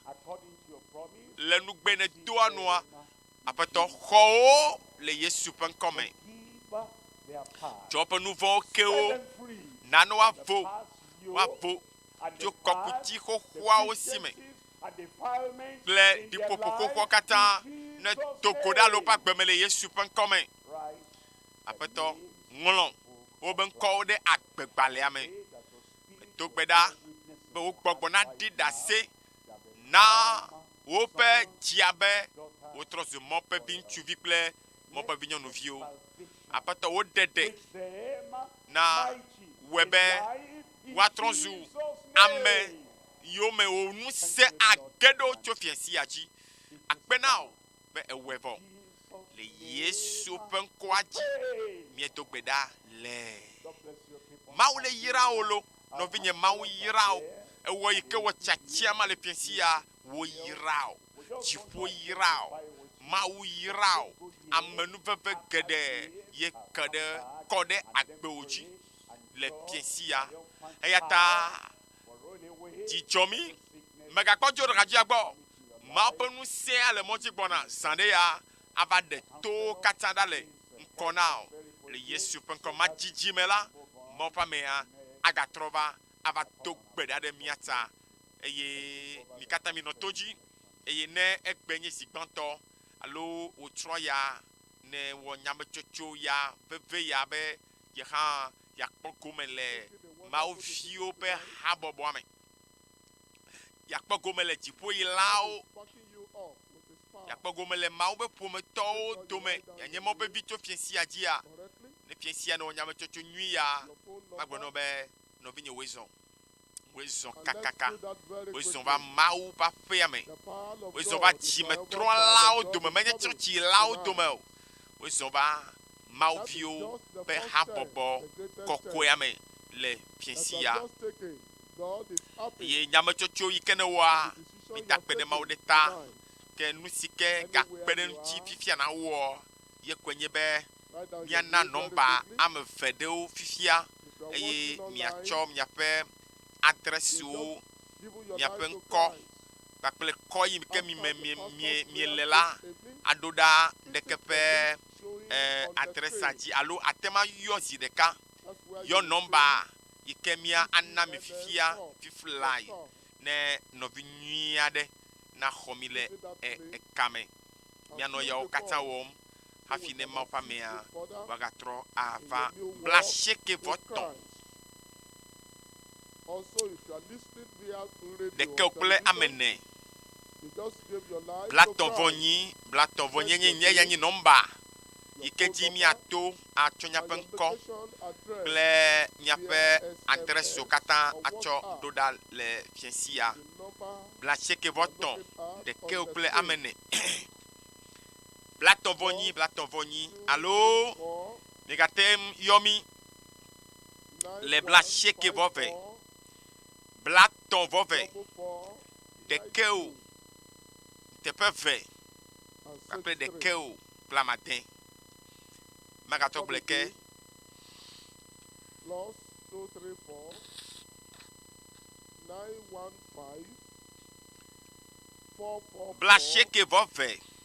le nugbe nèdoa nua, Aƒetɔ, xɔ wo le Yesu ƒe ŋkɔ me. Tsɔ woƒe nu vɔ̃wo ke wo, nane woavo, woavo tso kɔkuti xoxoawo si me. kple ɖiƒoƒoƒoƒoa katã nedo go ɖa le woƒe agbe me le Yesu ƒe ŋkɔ me. Aƒetɔ, ŋlɔ woƒe ŋkɔwo ɖe agbegbalẽa me. Medo gbe ɖa be wo gbɔgbɔ naɖi ɖase na woƒe dzia be wotrɔ zu mɔ ƒe viŋutsuvi kple mɔ ƒe vinyɔnuviwo. Aƒetɔ, wo ɖeɖe na wɔe be woatrɔ zu ame yome wò ŋusẽ age ɖo tso fia sia dzi. Akpe na wò be èwɔe vɔ. Le Yesu ƒe ŋkɔa dzi miedo gbe ɖa le. Mawu le yra wò lo, nɔvinye Mawu yra wò. Ewɔ yi ke wɔ tiatia ma le fia sia wò yra wò. Dziƒo yra wò. Mawu yra wò. Amenuveve geɖe ye ke ɖe kɔ ɖe agbewò dzi le fia sia. Eyata Dzi dzɔ mí. Mègakpɔ dzo ɖeka dzia gbɔ. Mawu ƒe ŋusẽa le mɔdzi gbɔna zã ɖe ya ava ɖe towo katã ɖa le ŋkɔ na wò. Le Yesu ƒe ŋkɔ madzidzi me la, Mawu ƒe amea agatrɔ va ava do gbe ɖa ɖe mía ta eye mi katã minɔ to dzi. Eye ne egbe nye zi gbãtɔ alo wòtrɔ ya, ne wɔ nyametsotso ya veve ya be ye hã yeakpɔ gome le Mawu viwo ƒe habɔbɔa me, yeakpɔ gome le dziƒoylawo, yeakpɔ gome le Mawu ƒe ƒometɔwo dome, yeanye mɔ vevi tso fiẽ sia dzia, ne fiẽ sia nɔ nyametsotso nyui ya, magblɔ nɔ be, Nɔvinye wòe zɔ. Wozɔ kakaka, wozɔ va Mawu ƒe aƒea me, wozɔ va dzimetrɔlawo dome, menye tsɔtsilawo dome o, wozɔ va Mawu viwo ƒe habɔbɔ kɔkɔea me le fiẽsia. Eye nyametsotso yi ke newɔa, midakpe ɖe Mawu ɖe ta, ke nu si ke gakpe ɖe eŋuti fifia nawɔ ye koe nye be miana nɔmba ame eve ɖewo fifia eye miatsɔ miaƒe adrɛs siwo miaƒe ŋkɔ kpakple kɔ yi ke mi me mie mie miele la aɖo ɖa ŋɖeke ƒe e, adrɛsa dzi alo ate ŋu ayɔ zi ɖeka yɔ nɔmba yi ke mia ana mi fifia fiflae ne nɔvi nyui aɖe naxɔ mi le e, ekame. Mianɔ yawo katã wɔm. hafi ne Mawu ƒe amea wòagatrɔ ava blaasiekɛvɔtɔ̃ ɖekɛ o kple ame ene. Blatɔ̃vɔnyi, blatɔ̃vɔnyenye nye ya nye nɔmba yi ke dzi míato atsɔ míaƒe ŋkɔ kple míaƒe adrɛsiwo katã atsɔ ɖo ɖa le fiẽ sia. Blaasiekɛvɔtɔ̃ ɖekɛ o kple ame ene. blatɔ̃vɔnyi blatɔ̃vɔnyi alo migate ŋu yɔ mí le blasiekɛvɔve blatɔ̃vɔve ɖekɛ o teƒe eve kpakple ɖekɛ o kple amade. Magatɔ gblɔe ke. plus two three four nine one five four four. Blasiekɛvɔve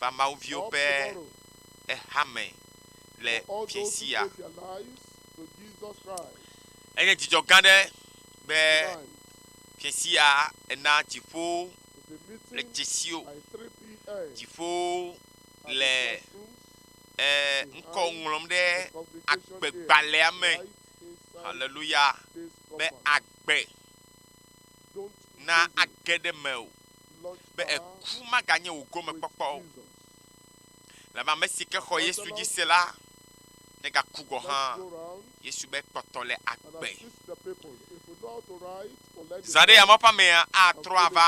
va Mawu viwo ƒe hame le Fiasia. Enye dzidzɔ gã aɖe be Fiasia ena dziƒo le dzesio, dziƒo le ŋkɔ ŋlɔm ɖe agbegbalẽa me. Haleluya! Be agbe na age ɖe me o. be eku maganye wò gomekpɔkpɔ o. Lebe ame si ke xɔ Yesu dzi se la negaku gɔ̃ hã, Yesu be kpɔtɔ le agbe. Zã ɖe yameawo ƒe amea atrɔ ava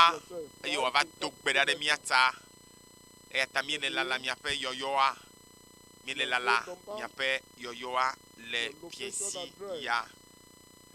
eye wòava do gbe ɖa ɖe mía ta. Eya ta míele lala miaƒe yɔyɔa, míele lala miaƒe yɔyɔa le fiesi ya.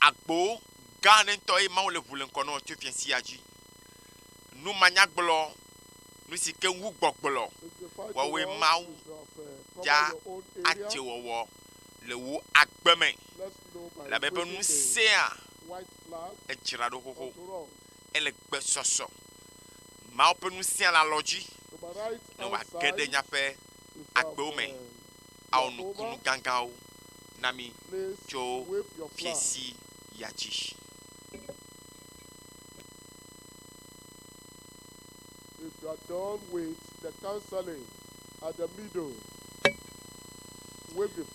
Agbo gã aɖe ŋutɔe Mawu le ŋu le ŋkɔ nɔ tso fia sia dzi. Numanyagblɔ, nu si ke ŋu gbɔgblɔ wɔwɔe Mawu dza adze wɔwɔ le wò agbe me. Labe eƒe ŋusẽa edzra ɖo xoxo. Ele gbesɔsɔ. Mawu ƒe ŋusẽa le alɔ dzi ne wòage ɖe nyaƒe agbewo me. awɔ nukunu gãgãwo na mí tso fiẽ si ya dzi.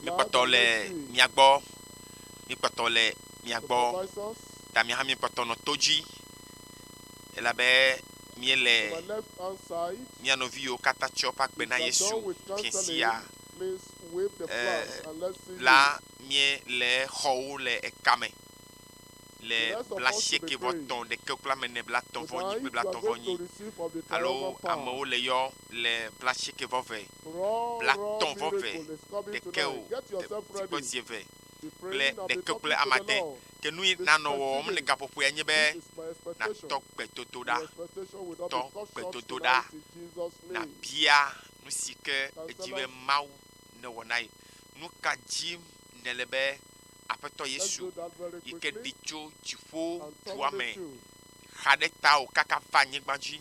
Míkpɔtɔ le mia gbɔ, míkpɔtɔ le mia gbɔ, ta mía hã míkpɔtɔ nɔ to dzi, elabe. miele mia nɔviwo kata tsɔ ƒe agbe na Yesu fiẽ sia, e la mie le xɔwo le eka me le bla sieke vɔ tɔn ɖeke kpla me ne bla tɔn vɔ nyi kple bla tɔn vɔ nyi alo amewo le yɔ le bla sieke vɔ ve bla tɔn vɔ ve ɖeke o, e tikpɔ zie ve. kple ɖeke kple ame ade ke nu yi nanɔ wɔwɔm le gaƒoƒoea nye be natɔ gbedodoɖa, tɔ gbedodoɖa, nabia nu si ke edzi be Mawu newɔ na ye. Nu ka dim nèle be Aƒetɔ Yesu yi ke ɖi tso dziƒo dua me xa ɖe tawò kaka va anyigba dzi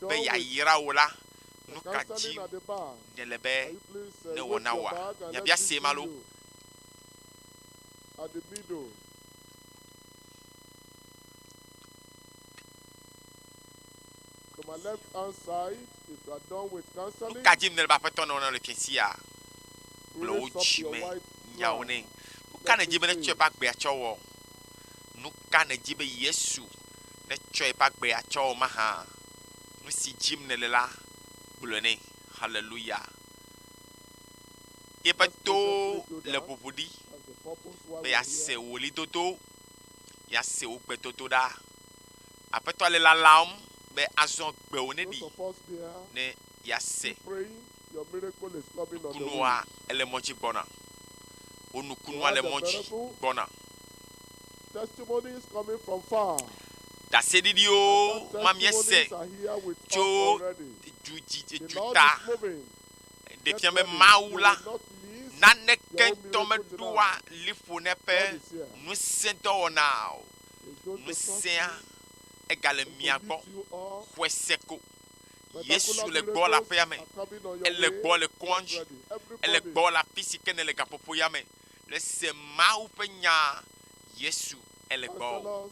be yeayra wò la, nu ka dim nèle be newɔ na wòa? Biabia see ma loo. Aɖibiɖo. To my left hand side, if you are done with counseling. Ka dim ne be Aƒetɔ nɔ nɔ le fiẽ sia. Gblɔ wò dzi me nyawo nɛ. Nu ka nèdi be netsɔ eƒe agbea tsɔ wɔ? Nu ka nèdi be Yesu netsɔ eƒe agbea tsɔ wɔ mahã? Nu si dim nele la, gblɔe nɛ. Haleluya! Yeƒe towo le ʋuʋu ɖi be yease wò ɣlidodo, yease wò gbedodoɖa. Aƒetɔa le lalam be azɔ gbewò ne ɖi ne yease nukunua ele mɔ dzi gbɔna. Wò nukunua le mɔ dzi gbɔna. Ɖaseɖiɖiwo ma míese tso duta ɖe fia be Mawu la naneke ŋutɔ meɖoa liƒo na eƒe ŋusẽdɔwɔna o. Ŋusẽa, egale mia gbɔ xɔe se ko. Yesu le gbɔ le aƒea me, ele gbɔ le kɔa dzi, ele gbɔ le afi si ke nèle gaƒoƒoea me. Le se Mawu ƒe nyaa, Yesu ele gbɔ.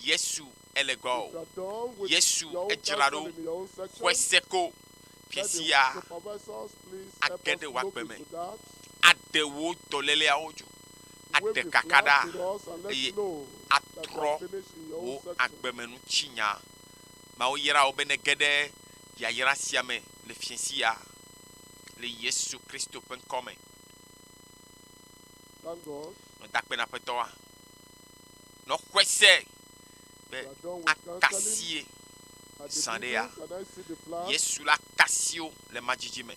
Yesu ele gbɔ o. Yesu edzra ɖo xɔe se ko. Ke sia age ɖe wò agbe me, aɖe wò dɔléleawo dzo, aɖe kaka ɖa, eye atrɔ wò agbemenutsinya. Mawu yra wò be nège ɖe yayra sia me le fiẽ sia le Yesu Kristo ƒe ŋkɔ me. Nɔ dakpe na Aƒetɔa. Nɔ xɔe se. be akasie zã ɖe ya. Yesu la kasi wo le madzidzi me.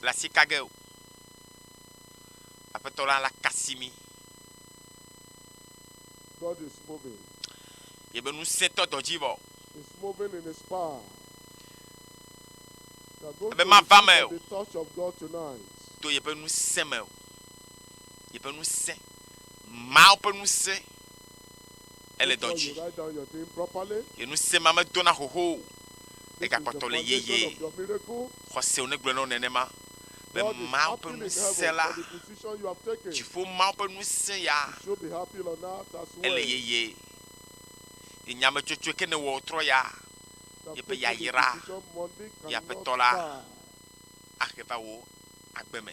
Le asi ka ge o. Aƒetɔ la la kasi mi. God is moving. Yebe ŋusẽtɔ dɔ dzi vɔ. Is moving in his power. Ebe mava me o. To yebe ŋusẽ me o. Yebe ŋusẽ. Mawu ƒe ŋusẽ ele dɔ dzi. Ye ŋusẽ ma medona xoxo o. Egakpɔtɔ le yeye. Xɔsewò negblɔe na wò nenema be Mawu ƒe ŋusẽ la, dziƒo Mawu ƒe ŋusẽ ya, ele yeye. Ye nyametsotsoe ke nèwɔ wòtrɔ ya. Yeƒe yayra ye Aƒetɔ la ahe va wò agbe me.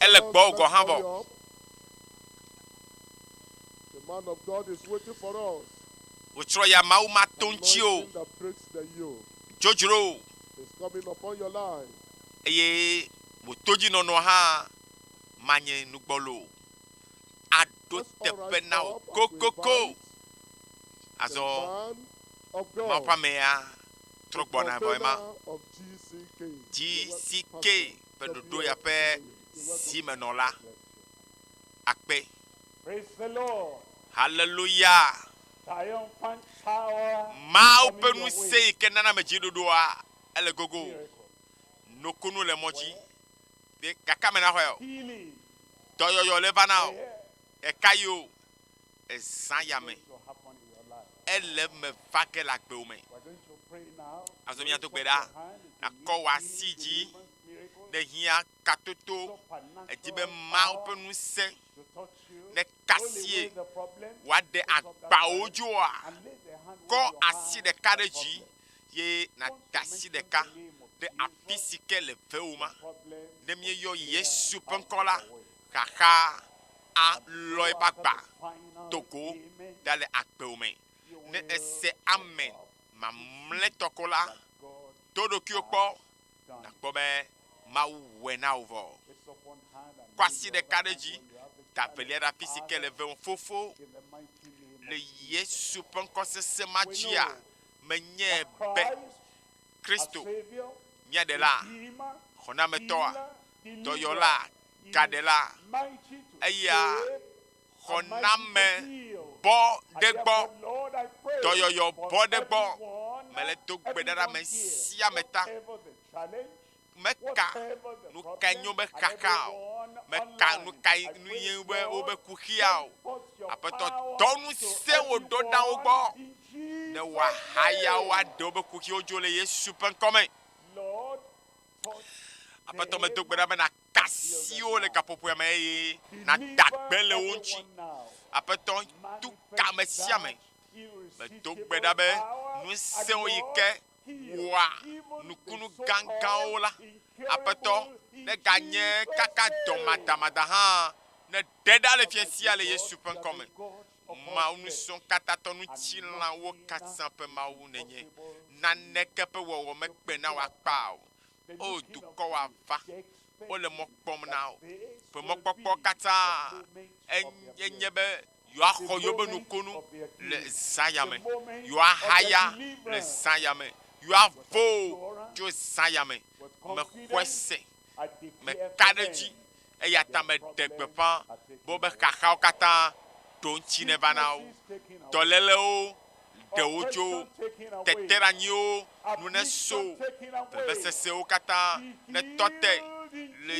ele gbɔwò gɔ̃ hã vɔ. Wòtsrɔ̃ ya Mawu matonti o, dzodzro o, eye wò todzinɔnɔ hã manye nu gbɔlo o. Aɖo teƒe na wò kokoko. Azɔ Mawu ƒe amea trɔ gbɔna vɔ ema. GCK. ƒe ɖoɖoya ƒe zimenɔla akpe. Haleluya! Mawu ƒe ŋusẽ yi ke nana ame dzi ɖoɖoa ele gogo. Nukunu le mɔ dzi. Gake ame naxɔe o. Dɔyɔyɔ le va na o. Ɖeka yi o. ezã ya me. Ele eme va ge le agbewo me. Azɔ mía do gbe ɖa, nàkɔ wò asi dzi. Ne hiã katoto, èdi be Mawu ƒe ŋusẽ nekasie wòaɖe agbawo dzoa, kɔ asi ɖeka ɖe dzi ye nàda asi ɖeka ɖe afi si ke le vewò ma. Ne míeyɔ Yesu ƒe ŋkɔ la, Xaxa a lɔe ba gba to go ɖa le agbewo me. Ne ese amen mamlɛ tɔ ko la, to ɖokuiwo kpɔ nakpɔ be Mawu wɔe na wò vɔ. Kɔ asi ɖeka ɖe dzi, da velia ɖe afi si ke le vem. Fofo, le Yesu ƒe ŋkɔ sesẽ ma dzia, menyae be Kristo, mía Ɖela, Xɔnametɔa, Dɔyɔlaa, gaɖela, eya xɔname bɔ ɖe gbɔ, dɔyɔyɔ bɔ ɖe gbɔ. Mele do gbe ɖa ɖe ame sia ame ta. Meka nu kae nye woƒe xaxa o. Meka nu kae nu ye nye woƒe woƒe kuxia o. Aƒetɔ dɔ ŋusẽ wò ɖo ɖa wo gbɔ ne woahaya wo aɖe woƒe kuxiwo dzo le Yesu ƒe ŋkɔ me. Aƒetɔ medo gbe ɖa be nakasi wo le gaƒoƒoea me eye nada gbe le wo ŋuti. Aƒetɔ tu ka ame sia ame. Medo gbe ɖa be ŋusẽwo yi ke wɔa nukunu gãgãwo la, Aƒetɔ neganye kaka dɔmadamada hã neɖe ɖa le fia sia le Yesu ƒe ŋkɔ me. Mawu ŋusẽkatãtɔ ŋutilãwo katã ƒe Mawu nènye. Naneke ƒe wɔwɔ mekpe na wò akpa o. O dukɔwo ava, wole mɔ kpɔm na wò. Ƒe mɔkpɔkpɔ katã enye nye be yewoaxɔ yewoƒe nukunu le Zaya me, yewoahaya le Zaya me, yewoavo tso Zaya me. Mexɔe se. meka ɖe edzi, eya ta meɖe gbeƒã be woƒe xaxawo katã ɖo ŋuti neva na wo. Dɔlélewo ɖe wo tso teteɖeanyiwo nu neso, vevesesewo katã netɔ te le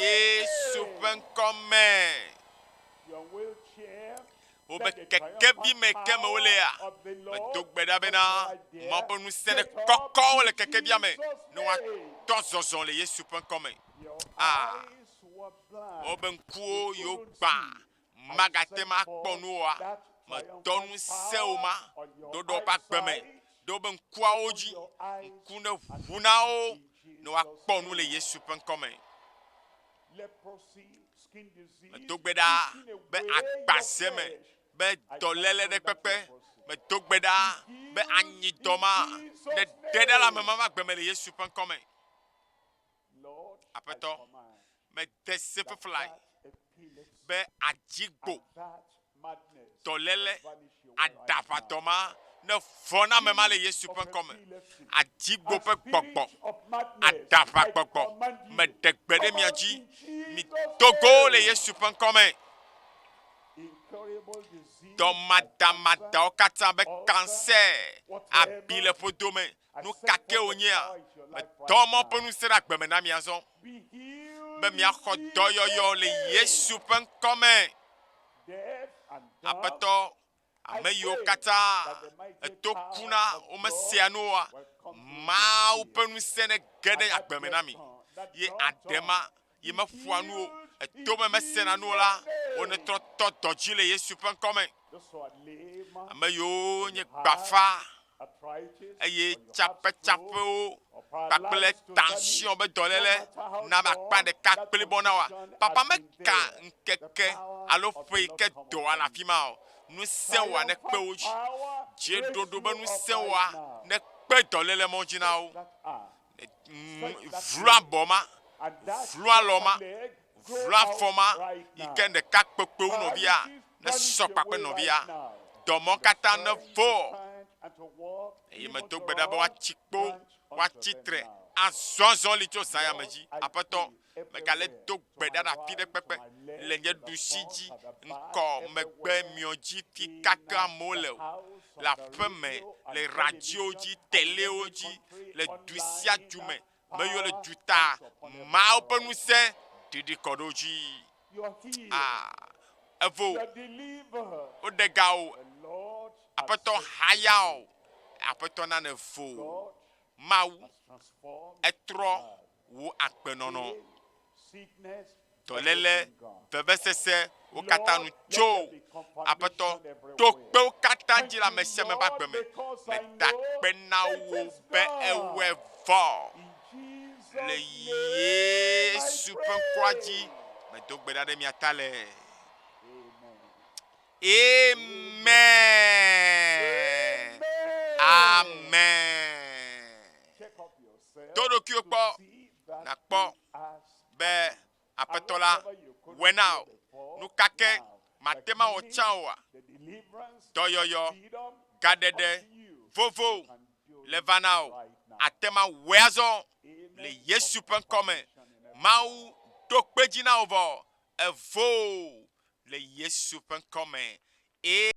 Yesu ƒe ŋkɔ me. wobe kekevi me ke me wolea, medo gbe ɖa bena Mawu ƒe ŋusẽ nekɔkɔ wo le kekevia me ne woatɔ zɔzɔ le Yesu ƒe ŋkɔ me. Ah, wobe ŋkuwo yewo gbã magate ma kpɔ nu oa, medɔ ŋusẽ wo ma ɖoɖɔ ƒe agbe me ɖe wobe ŋkuawo dzi, ŋku ne ʋu na wo ne woakpɔ nu le Yesu ƒe ŋkɔ me. Medo gbe ɖa be agba sia me be dɔléle ɖe kpekpe. Medo gbe ɖa be anyi dɔ ma ne ɖe ɖa le ame ma ƒe agbe me le Yesu ƒe ŋkɔ me. Aƒetɔ, mede se fefelae be adzigbo dɔléle aɖaʋatɔ ma, ne vɔ̃name ma le Yesu ƒe ŋkɔ me, adigbo ƒe gbɔgbɔ, aɖaʋagbɔgbɔ me ɖe gbe ɖe mia dzi. Mido go le Yesu ƒe ŋkɔ me. Dɔmadamadawo katã be kansɛ, abi le ƒodo me, Nu ka ke wònyea? Medɔ mɔ ƒe ŋusẽ ɖe agbe me na mi azɔ, be miaxɔ dɔyɔyɔ le Yesu ƒe ŋkɔ me. Aƒetɔ, ame yiwo katã eto ku na womesea nu oa, Mawu ƒe ŋusẽ nege ɖe agbe me na mi, ye aɖe ma yi meƒoa nu o, etome mesena nu o la, wonetrɔ tɔ dɔ dzi le Yesu ƒe ŋkɔ me. Ame yiwo nye gbafa eye tsapetsapewo kpakple tension be dɔléle na be akpa ɖeka kpli bɔ na wa. Papa meka ŋkeke alo ƒe yi ke dɔa le afi ma o. Ŋusẽ wa ne kpe wo dzi. Dzeɖoɖo be ŋusẽ wa ne kpe dɔléle mɔ dzi na wo. vluabɔ ma, vlualɔ ma, vluafɔ ma yi ke ɖeka kpekpewo nɔvia nesɔ kpakpe nɔvia, dɔmɔ katã nevɔ. Eye medo gbe ɖa be woatsi kpo, woatsi tre azɔzɔli tso zãyame dzi. Aƒetɔ, Megale do gbe ɖa na fi ɖe kpekpe le nye ɖusi dzi ŋkɔ megbe miɔ dzi fi kake amewo le o, le aƒe me, le radiowo dzi, telewo dzi, le du sia du me, meyɔ le duta mawo ƒe ŋusẽ ɖiɖi kɔ ɖe wo dzi. Ah, evo, woɖe ga o, aƒetɔ haya o, aƒetɔ nane vo. Mawu, etrɔ wò agbenɔnɔ, dɔléle, vevesese, wo katã nu tso aƒetɔ to kpewo katã dzi le ame sia ame ƒe agbe me. Meda akpe na wò be ewɔe vɔ le Yesu ƒe ŋkɔa dzi. Medo gbe ɖa ɖe mia ta le. Amen. Amen. Tɔ ɖokuiwò kpɔ nàkpɔ be Aƒetɔ la wɔe na wò. Nu ka ke màte ŋu awɔ tsã oa? Dɔyɔyɔ, gaɖeɖe vovo le va na wò. Àte ŋu awɔe azɔ le Yesu ƒe ŋkɔ me. Mawu ɖo kpe dzi na wò vɔ. Evoo le Yesu ƒe ŋkɔ me. Ee.